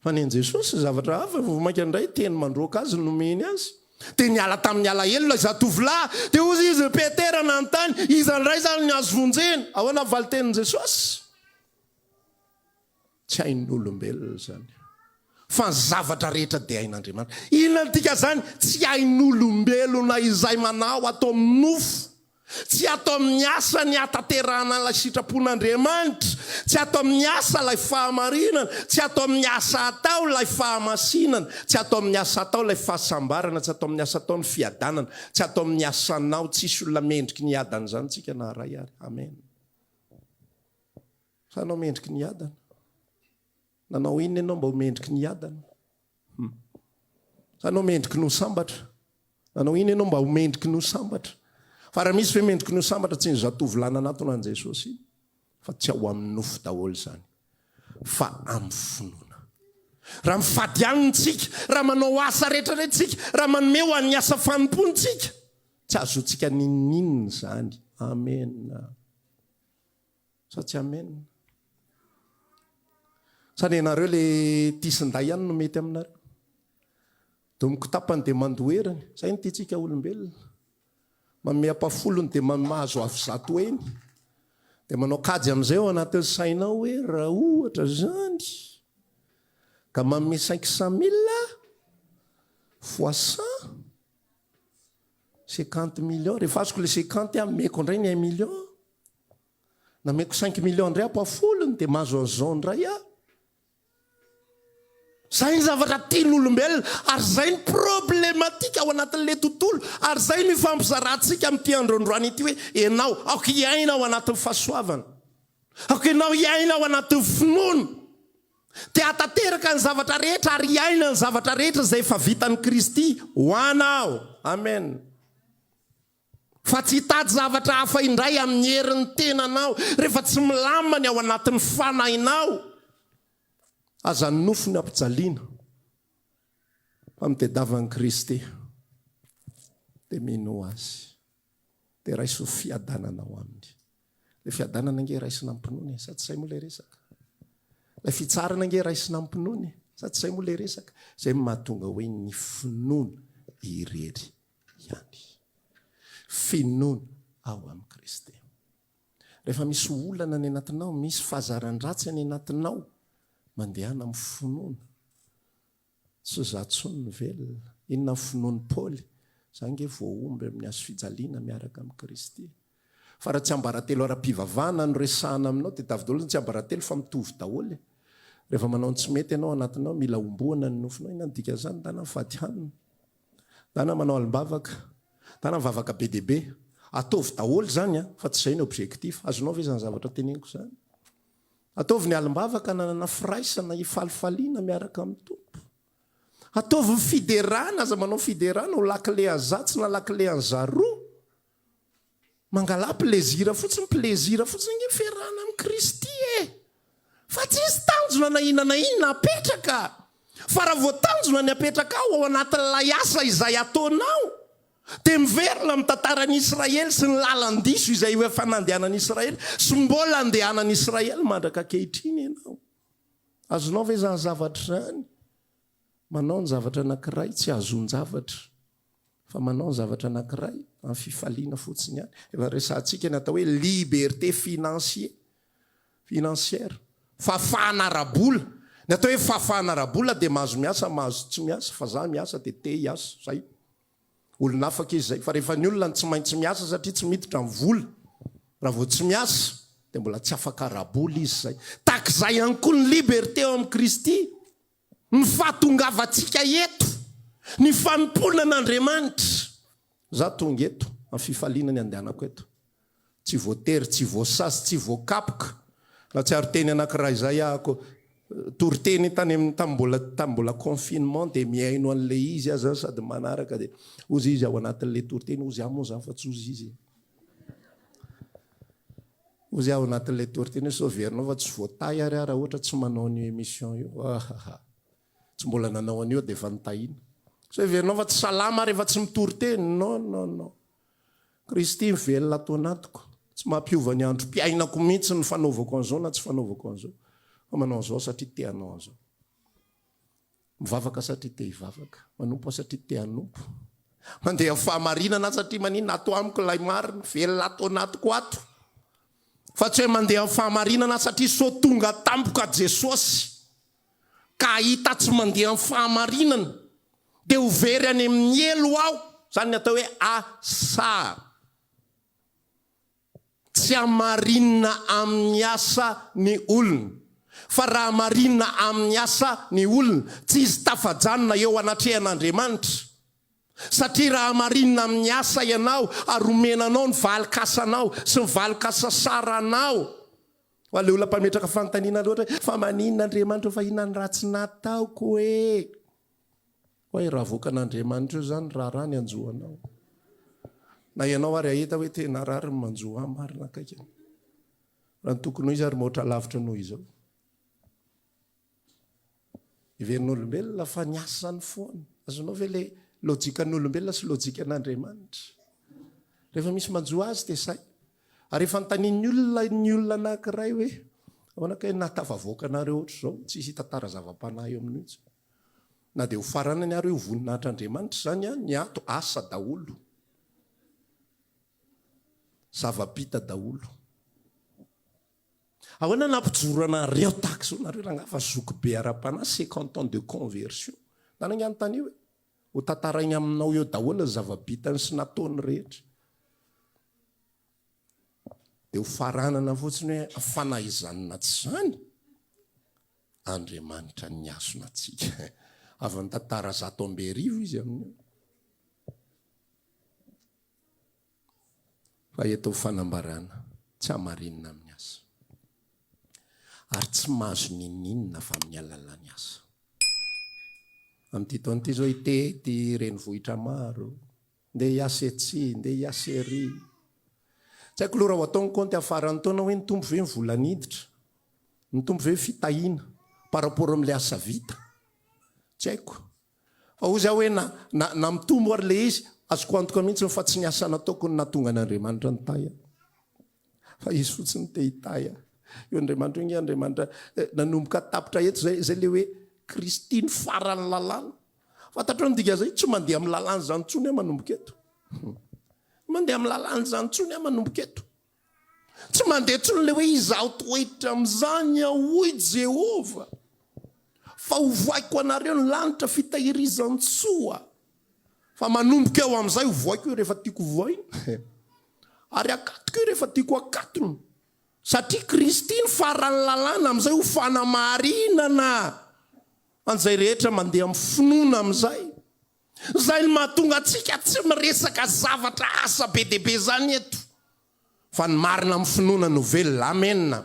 fa nen'i Jesosy zavatra hafa, vao mainka indray teny mandroaka azy no nomeny azy. Dia niala tamin'ny alahelo ilay zatovolahy. Dia hoy izy, Petera nanontany, Iza indray izany no azo vonjena? Ahoana ny valintenin'i Jesosy? Tsy hain'olombelona izany fa ny zavatra rehetra dia hain'Andriamanitra. Inona no dikan'izany? Tsy hain'olombelona izay manao ato amin'ny nofo, tsy ato amin'ny asa ny hahatanterahana ilay sitrapon'Andriamanitra, tsy ato amin'ny asa ilay fahamarinana, tsy ato amin'ny asa atao ilay fahamasinana, tsy ato amin'ny asa atao ilay fahasambarana, tsy ato amin'ny asa atao ny fiadanana, tsy ato amin'ny asanao, tsisy olona mendriky ny hiadana izany tsika na iray ary. Amen. Hanao mendriky ny adana. Nanao inona ianao mba ho mendriky ny adana? Hmm. Hanao mendriky ny ho sambatra. Nanao inona ianao mba ho mendriky ny ho sambatra? Fa raha misy ve mendriky ny ho sambatra tsy ny zatovo lahy nanatona an'i Jesosy fa tsy ao amin'ny nofo daholo izany fa amin'ny finoana. Raha mifady aminy tsika, raha manao asa rehetra rehetra tsika, raha manome ho an'ny asa fanompoany tsika, tsy azotsika ninoninona izany. Amen. sa tsy amen? Sa ny anareo le tisinday ihany no mety aminareo? Domiko tapany dia mandoheriny. Zay ny tiantsika olombelona. Manome ampafolony dia mahazo avy zato heny. Dia manao kajy amin'izay ao anatin'ny sainao hoe raha ohatra zany ka manome 500 mille fois 100 50 millions. Rehefa azoko le 50 aho meko indray ny 1 million. Nameko cinq millions indray aho pafoliny dia mahazo an'izao indray aho. Izay ny zavatra tian'olombelona ary izay ny problematika ao anatin'ilay tontolo ary izay no ifampizarantsika amin'ity andro androany ity hoe ianao, aoka hiaina ao anatin'ny fahasoavana. Aoka ianao hiaina ao anatin'ny finoana. Te hahatanteraka ny zavatra rehetra ary hiaina ny zavatra rehetra izay efa vitan'i Kristy ho anao. Amen. Fa tsy hitady zavatra hafa indray amin'ny herin'ny tenanao, rehefa tsy milamina ny ao anatin'ny fanahinao. Aza ny nofo no ampijaliana, fa mitedava an'i Kristy, dia mino Azy, dia raiso fiadanana ao Aminy. Ilay fiadanana ange raisina amim-pinoana e, sa tsy izay moa ilay resaka? Ilay fitsarana ange raisina amim-pinoana e, sa tsy izay moa ilay resaka? Izay no mahatonga hoe ny finoana irery ihany. Finoana ao amin'i Kristy. Rehefa misy olana any anatinao, misy fahazaran-dratsy any anatinao, mandehana amin'ny finoana. Tsy izaho intsony no velona. Inona ny finoan'i Paoly? Izaho ange voahomby amin'ny hazo fijaliana miaraka amin'i Kristy. Fa raha tsiambaratelo ara-pivavahana no resahana aminao, dia tavy daholo ny tsiambaratelo fa mitovy daholo e. Rehefa manao ny tsy mety ianao ao anatinao, mila homboana ny nofinao. Inona no dikan'izany? Ndana mivady hanina. Na na manao alim-bavaka, na na mivavaka be dia be. Ataovy daholo izany an, fa tsy izay ny objectif. Azonao ve izany zavatra teneniko izany? Ataovy ny alim-bavaka ananana firaisana hifalifaliana miaraka amin'ny Tompo. Ataovy ny fiderana, aza manao fiderana ho lakile an'izatsy na lakile an'izaroa. Mangalà plezira fotsiny, plezira fotsiny nge fiarahana amin'i Kristy e! Fa tsisy tanjona na inona na inona apetraka! Fa raha vao tanjona ny apetrakao ao anatin'ilay asa izay ataonao dia miverina amin'ny tantaran'i Israely sy ny lalan-diso izay efa nandehanan'i Israely sy mbola andehanan'i Israely mandraka ankehitriny ianao. Azonao ve izany zavatra izany? Manao ny zavatra anankiray tsy hahazoan-javatra. fa manao ny zavatra anankiray amin'ny fifaliana fotsiny ihany. Efa resahantsika ny atao hoe liberté financier, financière, fahafahana ara-bola. Ny atao hoe fahafahana ara-bola dia mahazo miasa, mahazo tsy miasa, fa za miasa dia te hiasa, zay. Olon'afaka izy zay, fa rehefa ny olona no tsy maintsy miasa satria tsy miditra ny vola raha vao tsy miasa, dia mbola tsy afaka ara-bola izy zay. Tahaka izay ihany koa ny liberté ao amin'i Kristy. Ny fahatongavantsika eto, ny fanompoana an'Andriamanitra. Izaho tonga eto amin'ny fifaliana ny handehanako eto. Tsy voatery, tsy voasazy, tsy voakapoka. Nahatsiaro teny anankiray izay aho ko. Toriteny tany amin'ny, tamin'ny mbola, tamin'ny mbola confinement dia mihaino an'ilay izy aza aho sady manaraka dia hozy izy ao anatin'ilay toriteny, hozy aho moa izany fa tsy hozy izy e. Ozy ao anatin'ilay tortine sao heverinao fa tsy voatahy ary aho raha ohatra tsy manao an'io émission io ahahha tsy mbola nanao an'io dia efa notahina sao heverinao fa tsy salama aho rehefa tsy mitorte non non non Kristy mivelona ato anatiko tsy mampiova ny androm-piainako mihitsy ny fanaovako an'izao na tsy fanaovako an'izao fa manao an'izao satria te hanao an'izao Mivavaka satria te hivavaka. Manompo aho satria te hanompo. Mandeha amin'ny fahamarinana aho satria maninona ato amiko ilay marina, velona ato anatiko ato. Fa tsy hoe mandeha amin'ny fahamarinana aho satria sao tonga tampoka Jesosy ka hahita aho tsy mandeha amin'ny fahamarinana dia ho very any amin'ny helo aho. Izany ny atao hoe asa. Tsy hamarinina amin'ny asa ny olona, fa raha marina amin'ny asa ny olona, tsy hisy tafajanona eo anatrehan'Andriamanitra. Satria raha marina amin'ny asa ianao ary omena anao ny valin-kasanao sy ny valin-kasa saranao, ho an'ilay olona mpametraka fanontaniana loatra hoe, Fa maninona Andriamanitra ho fahina ny ratsy nataoko e? Oay raha voakan'Andriamanitra eo zany raharaha ny anjo anao. Na ianao ary ahita hoe tena raha ry manjo ahy marina akaiky an. Raha ny tokony ho izy ary mihoatra lavitra noho izao. Heverin'olombelona fa ny asany foana. Azonao ve le lojikan'olombelona sy lojikan'Andriamanitra. Rehefa misy manjo azy dia sahy. Ary efa antanin'ny olona ny olona anankiray hoe ahoana kay nahatafavoaka anareo ohatr'izao, tsisy hita tara zava-panahy eo amin'io intsony. Na dia ho faranany ary io voninahitr'Andriamanitra izany an, ny ato asa daholo. Zava-bita daholo. Ahoana nampijoro anareo tahaka izao nareo rangahy fa zokibe ara-panahy cinquante ans de conversion. Nanaiky anontaniho e. Ho tantarainy aminao eo daholo ny zava-bitany sy nataony rehetra. Dia ho faranana fotsiny hoe fanahy izany na tsy izany. Andriamanitra nihasona antsika. Avy amin'ny tantara zato amby arivo izy amin'io. Fa eto ho fanambarana, tsy hamarinina amin'ny asa. Ary tsy mahazo n'inon'inona fa amin'ny alalan'ny asa. Amin'ity taona ity izao, i Tety, renivohitra maro, Ndeha hiasa etsy, ndeha hiasa ery. Tsy haiko loha raha ho atao ny kaonty amin'ny faran'ny taona hoe nitombo ve ny vola niditra? Nitombo ve ny fitahiana par rapport amin'ilay asa vita? Tsy haiko. Fa hoy za hoe na, na, na mitombo ary ilay izy, azoko antoka mihitsy fa tsy ny asa nataoko no nahatonga an'Andriamanitra nitahy ahy. Fa izy fotsiny te hitahy ahy. Io Andriamanitra io nge Andriamanitra eh, nanomboka tapitra eto zay, zay le hoe Kristy ny faran'ny lalàna. Fantatrao ny dikan'izay? Tsy mandeha amin'ny lalàn'izany intsony aho manomboka eto. Mandeha amin'ny lalàn'izany intsony aho manomboka eto. Tsy mandeha intsony le hoe izaho toetra amin'izany aho, hoy Jehovah. Fa hovoaiko anareo ny lanitra fitahirizan-tsoa. Fa manomboka eo amin'izay ho vohaiko io rehefa tiako hovohaina, ary hakatoko io rehefa tiako hakatony, satria Kristy no faran'ny lalàna amin'izay ho fanamarinana an'izay rehetra mandeha amin'ny finoana amin'izay. Izay no mahatonga antsika tsy miresaka zavatra asa be dia be izany eto. Fa ny marina amin'ny finoana no velona. Amena.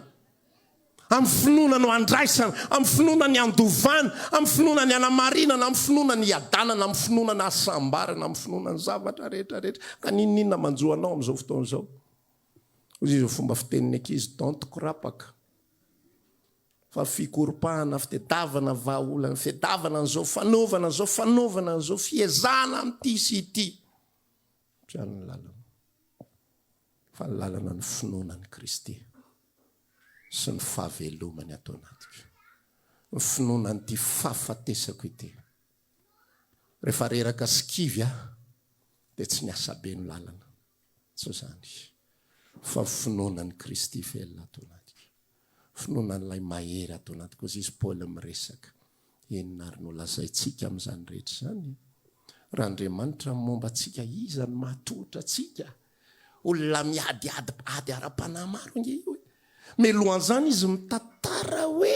Amin'ny finoana no andraisana, amin'ny finoana ny andovana, amin'ny finoana ny anamarinana, amin'ny finoana ny iadanana, amin'ny finoana ny hasambarana, amin'ny finoana ny zavatra rehetra rehetra. Ka n'inon'inona manjo anao amin'izao fotoana izao. Hoy izao fomba fitenin'ny ankizy, don't kurapaka. Fa fikoropahana, fitedavana vahaolana, fitedavana an'izao, fanaovana an'izao, fanaovana an'izao, fiezahana amin'ity sy ity. Mpiaro ny lalana. Fa ny lalana ny finoana an'i Kristy sy ny fahavelomany ato anatiko. Ny finoana an'ity fahafatesako ity. Rehefa reraka sy kivy aho dia tsy miasa be ny lalana. Tsy izany. Fa ny finoana an'i Kristy velona ato anatiko. finoanan'ilay mahery ato anaty koa izy Paoly miresaka. Inona ary no lazaintsika amin'izany rehetra izany? Raha Andriamanitra no momba antsika, iza no mahatohitra antsika? Olona miadiady ady ara-panahy maro ange io e! Mialohan'izany izy mitantara hoe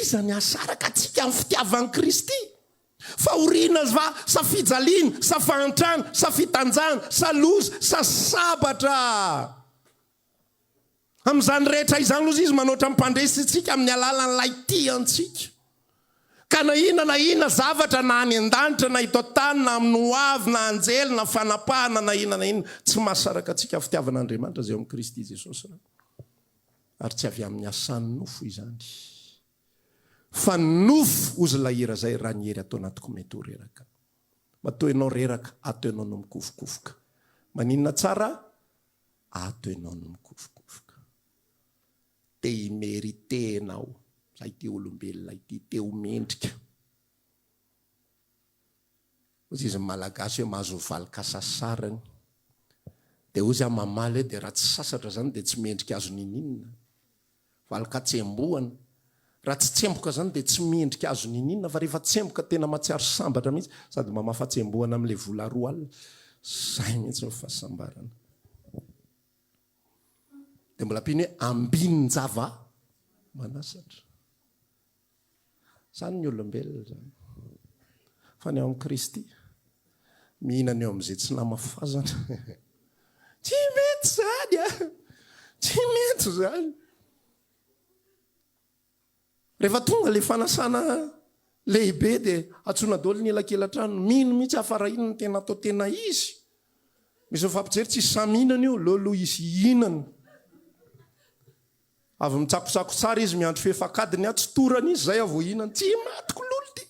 iza ny hahasaraka antsika amin'ny fitiavan'i Kristy. Fahoriana va sa fijaliana sa fahantrana sa fitanjana sa loza sa sabatra? Amin'izany rehetra izany loza izy manoatra mpandresy antsika amin'ny alalan'ilay tia antsika. Ka na inona na inona zavatra na any an-danitra na eto an-tany na amin'ny ho avy na anjely na fanapahana na inona na inona tsy mahasaraka antsika fitiavan'Andriamanitra izay ao amin'i Kristy Jesosy Rany. Ary tsy avy amin'ny asan'ny nofo izany fa ny nofo hozy ilay hira izay raha ny hery ato anatiko mety ho reraka. Matoa ianao reraka ato ianao no mikofokofoka. Maninona tsara? Ato enao no mikofokofoka. Te hi-meriter enao sa ity olombelona ity te ho mendrika. Hozy izy ny Malagasy hoe mahazo ho valoka sasarany. Dia hozy aho mamaly hoe dia raha tsy sasatra izany dia tsy mendrika azo niniana. Valin-katsembohana. Raha tsy tsemboka izany dia tsy mendrika azo niniana fa rehefa tsemboka tena matsiaro sambatra mihitsy sady mba mafatsembohana amin'ilay vola roa alina. Izay mihitsy no fahasambarana. Dia mbola ampiany hoe ambinin-java-manasatra. Izany ny olombelona izany. Fa ny ao amin'i Kristy, mihinana eo amin'izay tsy namafazana. Tsy mety izany a! Tsy mety izany. Rehefa tonga ilay fanasana lehibe dia atsoina daholo ny elakelatrano. Mino mihitsy aho fa raha iny no tena atao tena izy. Misy efa mpijery tsisy sahy mihinana io, leo aloha izy hihinana. Avy mitsakosako tsara izy miandry fefak'adiny aho tsy torany izy zay aho vao hihinana tsy imatiko lolo ty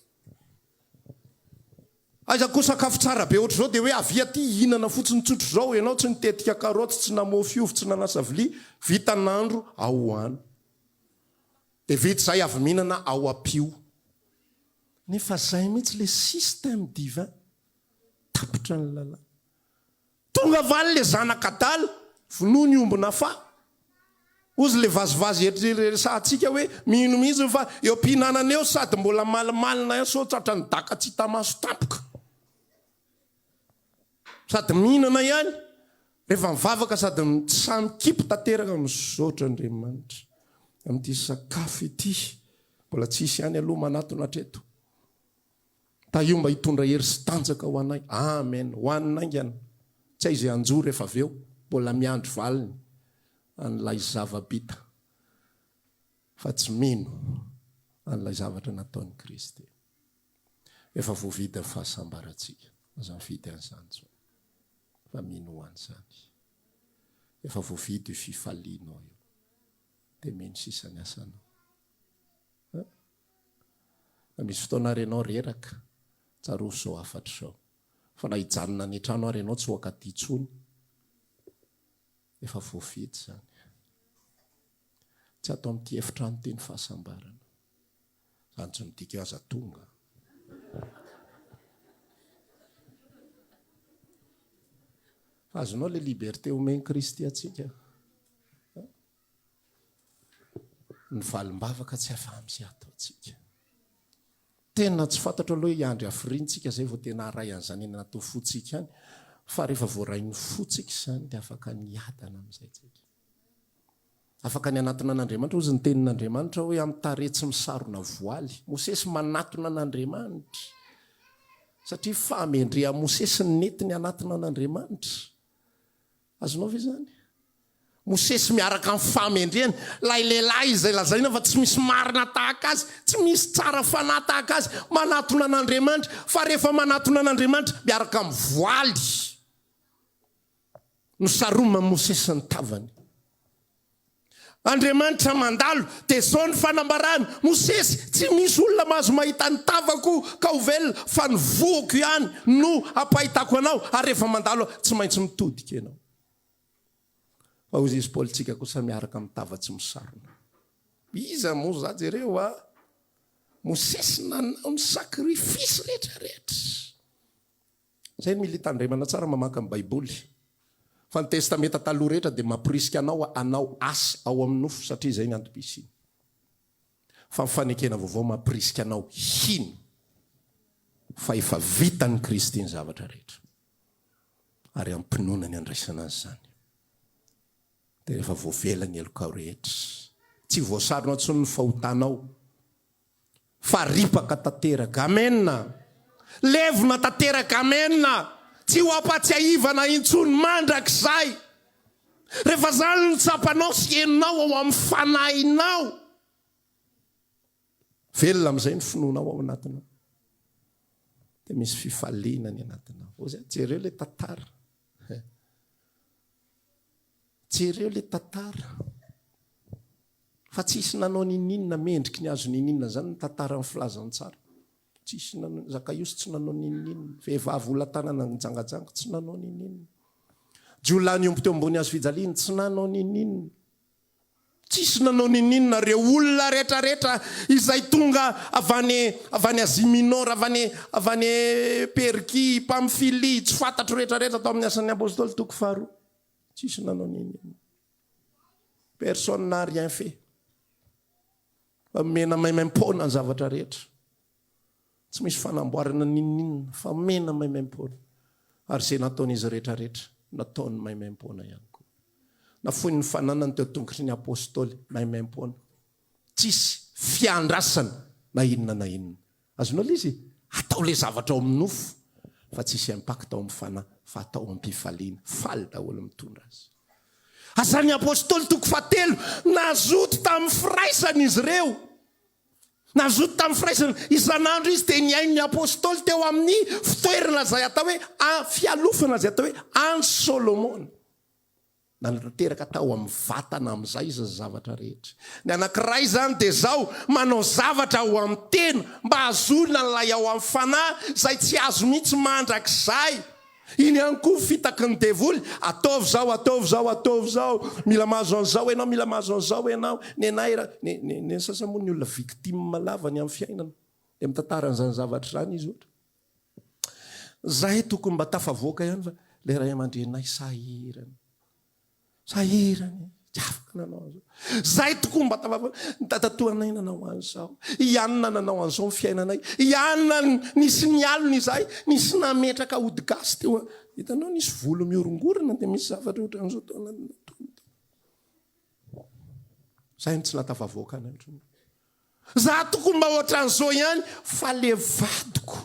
aiza koa sakafo tsara be ohatr'izao dia hoe avia ty hihinana fotsiny tsotra izao ianao tsy nitetika karoty tsy namofy ovy tsy nanasa vilia vita nandro aho hoany dia vita izay avy mihinana aho ampio nefa zay mihitsy le système divin tapitra ny lalàna Tonga valy le zanak adala vonoy ny omby nafaha. Ozy le vazivazy ery resahantsika hoe mino mihitsy ny fa eo ampihinanana eo sady mbola malimalina ihany sao tratran'ny daka tsy hita maso tampoka. Sady mihinana ihany rehefa mivavaka sady mitsaha mikipy tanteraka misaotra Andriamanitra amin'ity sakafo ity mbola tsy hisy ihany aloha manatona hatreto. Tahio mba hitondra hery sy tanjaka ho anay. Amen. Ho an'ny naingana. Tsy hay izay hanjo rehefa avy eo. Mbola miandry valiny an'ilay zava-bita fa tsy mino an'ilay zavatra nataon'i Kristy. Efa voavidy ny fahasambarantsika. Aza mifidy an'izany intsony fa mino ho an'izany. Efa voavidy io fifalianao io. Dia mino sisa ny asanao. Na misy fotoana ary ianao reraka, tsarovy izao hafatra izao, fa na hijanona any an-trano ary ianao tsy hoaka aty intsony, efa voafidy izany. Tsy ato amin'ity efitrano ity ny fahasambarana. Izany tsy midika hoe aza tonga. Fa azonao ilay liberté omen'i Kristy antsika. ny valim-bavaka tsy afa-misy ataontsika. Tena tsy fantatro aloha hoe hiandry hafiriantsika izay vao tena haray an'izany eny anaty fontsika any, fa rehefa voaray ny fontsika izany dia afaka niadana amin'izay tsika. Afaka ny hanatona an'Andriamanitra, hozy ny tenin'Andriamanitra hoe amin'ny tarehy tsy misarona voaly. Mosesy manatona an'Andriamanitra, satria fahamendrehan'i Mosesy ny nety ny hanatona an'Andriamanitra. Azonao ve izany? Mosesy miaraka amin'ny fahamendrehany, ilay lehilahy izay lazaina fa tsy misy marina tahaka azy, tsy misy tsara fanahy tahaka azy, manatona an'Andriamanitra, fa rehefa manatona an'Andriamanitra miaraka amin'ny voaly, nosaroman'i Mosesy ny tavany. Andriamanitra mandalo, dia izao ny fanambarany, Mosesy, tsy misy olona mahazo mahita ny tavako ka ho velona, fa ny voako ihany no ampahitako anao, ary rehefa mandalo aho, tsy maintsy mitodika ianao. Fa hoy izy, Paolintsika kosa miaraka amin'ny tava tsy misarona. Iza moa za jereo a! Mosesy nanao ny sacrifice rehetra rehetra. Zay mily tandremana tsara mamaky ny baiboly fa ny testameta taloha rehetra dia mamporisika anao hanao asa ao amin'ny nofo satria izay ny antom-pisiany fa ny fanekena vaovao mamporisika anao hino fa efa vitan'ny kristy ny zavatra rehetra ary hampinoana ny handraisana azy izany dia rehefa voavela ny helokao rehetra tsy voasarona intsony ny fahotanao Fa ripaka tanteraka. Amen. Levona tanteraka. Amen. Tsy ho ampatsiahivana intsony mandrakizay. Rehefa izany no tsapanao sy henonao ao amin'ny fanahinao, velona amin'izay ny finoanao ao anatinao. Dia misy fifaliana ny anatinao. Hoy izay, jereo ilay tantara. Jereo ilay tantara. Fa tsisy nanao ninininona mendriky ny azo ninininona zany ny tantaran'ny filazantsara. Tsisy nanao, Zakaiosy tsy nanao ninininona, vehivavy olona tanana nijangajanga tsy nanao ninininona. Jiolahy niombo teo ambony hazo fijaliany tsy nanao ninininona. Tsisy nanao ninininona ireo olona retraretra izay tonga avy any avy any Asie Minor, avy any avy any Perkia, i Pamfilia, tsy fantatro retraretra tao amin'ny Asan'ny Apostoly toko faharoa. Tsisy nanao ninininona. Personne n'a rien fait. Fa mena maimaim-poana ny zavatra rehetra. Tsy misy fanamboarana n'inon'inona fa mena maimaim-poana. Ary izay nataon'izy rehetra rehetra, nataony maimaim-poana ihany koa. Nafoiny ny fananany teo an-tongotry ny Apôstôly maimaim-poana. Tsisy fiandrasana na inona na inona. Azonao izy e! Atao le zavatra ao amin'ny nofo fa tsy hisy impact ao amin'ny fanahy fa atao am-pifaliana. Faly daholo mitondra azy. Asan'ny Apostoly toko fahatelo, nazoto tamin'ny firaisana izy ireo. Nazoto tamin'ny firaisana. Isan'andro izy dia nihaino ny Apostoly teo amin'ny fitoerana izay atao hoe, fialofana izay atao hoe Antsy Solomona. Nanatanteraka tao amin'ny vatana amin'izay izy ny zavatra rehetra. Ny anankiray izany dia izao, manao zavatra ao amin'ny tena mba hahazoana an'ilay ao amin'ny fanahy izay tsy azo mihitsy mandrakizay. Iny ihany koa fitaky ny devoly, ataovy izao, ataovy izao, ataovy izao, mila mahazo an'izao ianao, mila mahazo an'izao ianao. Nenay ra, ny, ny, ny sasany moa ny olona victime lava ny amin'ny fiainana. Dia mitantara an'izany zavatra izany izy ohatra. Zahay tokony mba tafavoaka ihany fa ilay ray aman-dreninay sahirana. Sahirana e, tsy afaka nanao an'izao. Zahay tokoa mba tafavoaka. Ny dadatoanay nanao an'izao. I Anna nanao an'izao ny fiainanay. I Anna nisy nialona izahay, nisy nametraka ody gasy teo. Hitanao nisy volo mihorongorona dia misy zavatra ohatran'izao tao anatin'ny nataony tao. Zahay no tsy nahatafavoaka anay ohatran'izao. Za tokoa mba ohatran'izao ihany fa le vadiko.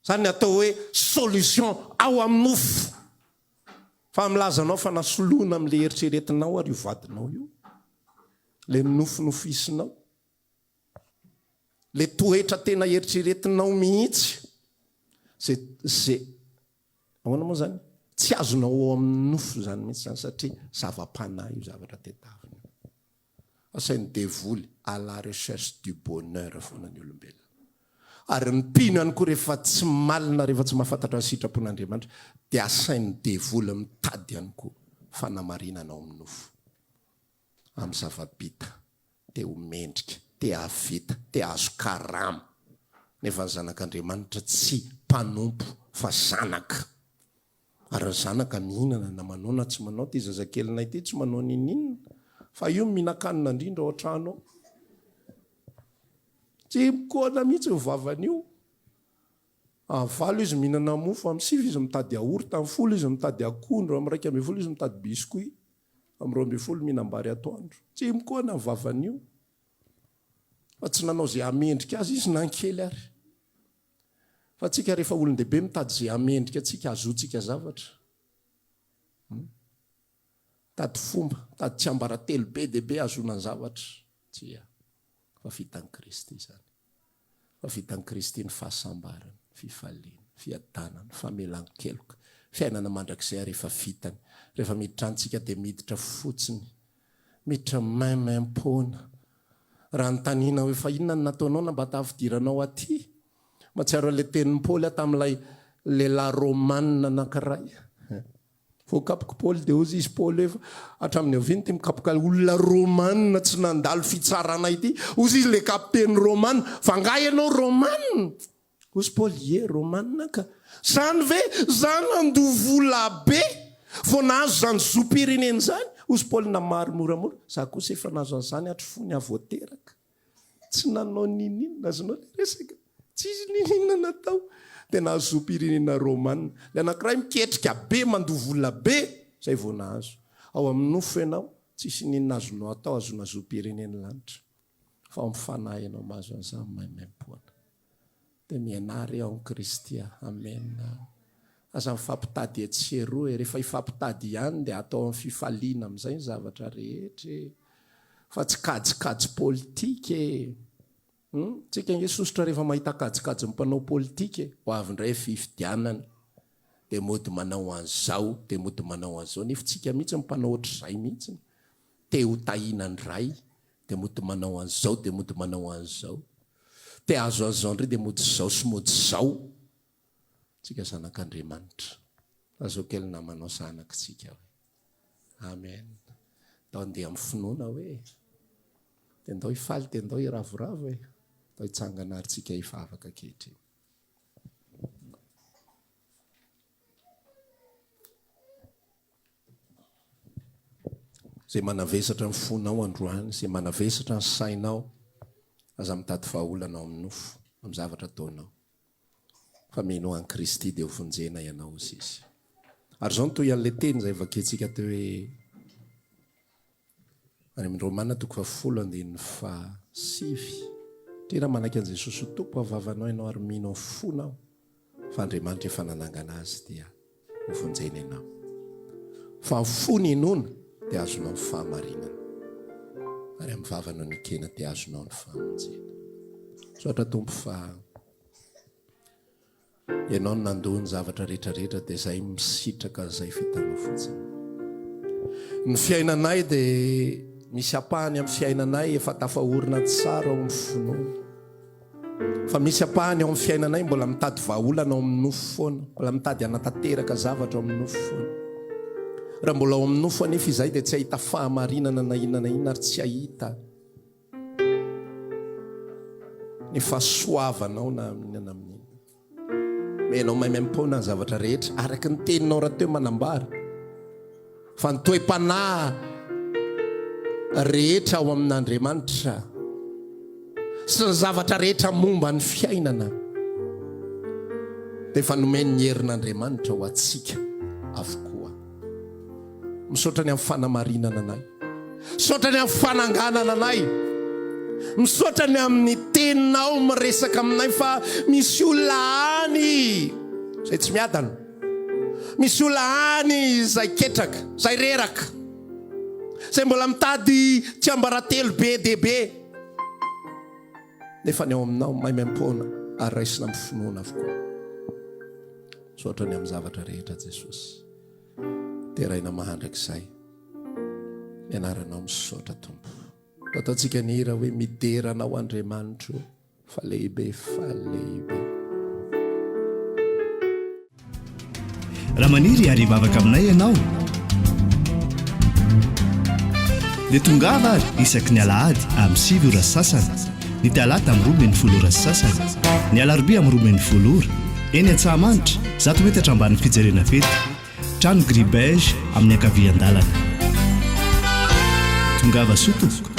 Zany ny atao hoe solution ao amin'ny nofo. Fa milaza anao fa nasoloina amin'le heritreretinao ary io vadinao io. Le nofinofisinao. Le toetra tena eritreretinao mihitsy. Ze, ze, ahoana moa zany? Tsy azonao ao amin'ny nofo zany mihitsy zany satria zava-panahy io zavatra tedavina io. Asain'ny devoly à la recherche du bonheur foana ny olombelona. Ary mpino ihany koa rehefa tsy malina, rehefa tsy mahafantatra ny sitrapon'Andriamanitra dia asain'ny devoly mitady ihany koa fanamarinana ao amin'ny nofo, amin'ny zava-bita, te ho mendrika, te hahavita, te hahazo karama. Nefa ny zanak'Andriamanitra tsy mpanompo fa zanaka. Ary ny zanaka mihinana na manao na tsy manao, ity zazakelinay ity tsy manao n'inon'inona fa io mihinan-kanina indrindra ao an-trano ao. Tsy mikoana mihitsy io vavany io. Amin'ny valo izy mihinana mofo, amin'ny sivy izy mitady yaourt, amin'ny folo izy mitady akondro, amin'ny iraika ambin'ny folo izy mitady biscuit, amin'ny roa ambin'ny folo mihinam-bary atoandro. Tsy mikoana ny vavany io. Fa tsy nanao izay hamendrika azy izy na ny kely ary. Fa antsika rehefa olon-dehibe mitady izay hamendrika antsika hahazoantsika zavatra. Hmm? Mitady fomba, mitady tsiambaratelo be dia be hahazoana ny zavatra. Tsia. Fa vitan'i Kristy izany. Fa vitan'i Kristy ny fahasambarana, fifaliana, fiadanana, famelan-keloka, fiainana mandrakizay rehefa vitany. Rehefa miditra antsika dia miditra fotsiny. Miditra maimaimpona, Raha anontaniana hoe fa inona no nataonao na mba tafidiranao aty? Mahatsiaro an'ilay tenin'i Paoly aho tamin'ilay lehilahy Romanina anankiray. Voakapok'i Paoly dia hozy izy, Paoly hoe, hatramin'ny avia no ity mikapoka olona Romanina tsy nandalo fitsarana ity? Hozy izy, ilay kapiteny Romanina, fa angaha ianao Romanina? Hoy Spaoly, Ie, Romanina ka. Zany ve zany andovolabe vao nahazo zany zom-pirenena zany? Hoy Spaoly namaly moramora, Za kosa efa nahazo an'zany hatry fony aho vao teraka. Tsy nanao ninin, azonao le resaka? Tsisy ninin natao de nahazo zom-pirenena Romanina. Le anakiray miketrika be mandovolabe zay vao nahazo. Ao amin'ny nofo ianao, tsisy ninin azonao atao ahazoana zom-pirenena lanitra. Fa ao amin'ny fanahy ianao mahazo an'zany maimaimpoana. dia mianary ao amin'i Kristy aho. Amen. Aza mifampitady etsy sy eroa e. Rehefa hifampitady ihany dia atao amin'ny fifaliana amin'izay ny zavatra rehetra e. Fa tsy kajikajy politika e. Hum? Tsika ange sosotra rehefa mahita kajikajin'ny mpanao politika e. Ho avy indray fifidianana dia mody manao an'izao, dia mody manao an'izao. Nefa tsika mihitsy mpanao ohatr'izay mihitsy. Te ho tahiana indray, dia mody manao an'izao dia mody manao an'izao, te azo an'izao indray dia mody izao sy mody izao, tsika zanak'Andriamanitra, lazao kely namanao zanaka tsika hoe, amen, ndao handeha amin'ny finoana hoe, dia ndao hifaly dia ndao hiravoravo hoe, ndao hitsangana ary tsika hivavaka ankehitriny. Izay manavesatra ny fonao androany, izay manavesatra ny sainao, aza mitady vahaolana ao amin'ny nofo, amin'ny zavatra ataonao. Fa mino an'i Kristy dia ho vonjena ianao, hoy Izy. Ary izao no tohin'ilay teny izay vakintsika teo hoe, Any amin'ny Romana toko fahafolo andininy faha sivy, Tena manaiky an'i Jesosy ho Tompo amin'ny vavanao ianao ary mino amin'ny fonao fa Andriamanitra efa nanangana Azy dia hovonjena ianao. Fa amin'ny fo no inoana dia azonao ny fahamarinana ary amin'ny vava no nekena dia azonao ny famonjena. Misaotra Tompo fa Ianao no nandoa ny zavatra rehetra rehetra dia izay misitraka an'izay vitanao fotsiny. Ny fiainanay dia misy ampahany amin'ny fiainanay efa tafaorina an-tsara ao amin'ny finoana. Fa misy ampahany ao amin'ny fiainanay mbola mitady vahaolana ao amin'ny nofo foana, mbola mitady hanatanteraka zavatra ao amin'ny nofo foana. Raha mbola ao amin'ny nofo anefa izay dia tsy hahita fahamarinana na inona na inona ary tsy hahita ny fahasoavanao na amin'ina na amin'ina. Mba ianao maimaim-poana ny zavatra rehetra araka ny teninao rahateo manambara fa ny toe-panahy rehetra ao amin'Andriamanitra sy ny zavatra rehetra momba ny fiainana dia efa nomen'ny herin'Andriamanitra ho antsika avokoa. Misaotra ny amin'ny fanamarinana anay. Misaotra ny amin'ny fananganana anay. Misaotra ny amin'ny teninao miresaka aminay fa misy olona any izay tsy miadana. Misy olona any izay ketraka, izay reraka. Izay mbola mitady tsiambaratelo be dia be. Nefa ny ao aminao maimaim-poana ary raisina amin'ny finoana avokoa. Misaotra ny amin'ny zavatra rehetra Jesosy. Deraina mandrakizay. Ny anaranao misaotra Tompo. Ataontsika ny hira hoe midera anao Andriamanitro fa lehibe fa lehibe. Raha maniry hiary hivavaka aminay ianao dia tongava ary isaky ny alahady amin'ny sivy ora sasany. ny talata amin'ny roa ambin'ny folo ora sy sasany, ny alarobia amin'ny roa ambin'ny folo ora, eny Antsahamanitra, zato metatra ambanin'ny fijerena fety, trano gris beige amin'ny ankavian-dalana. Tongava soa tompoko.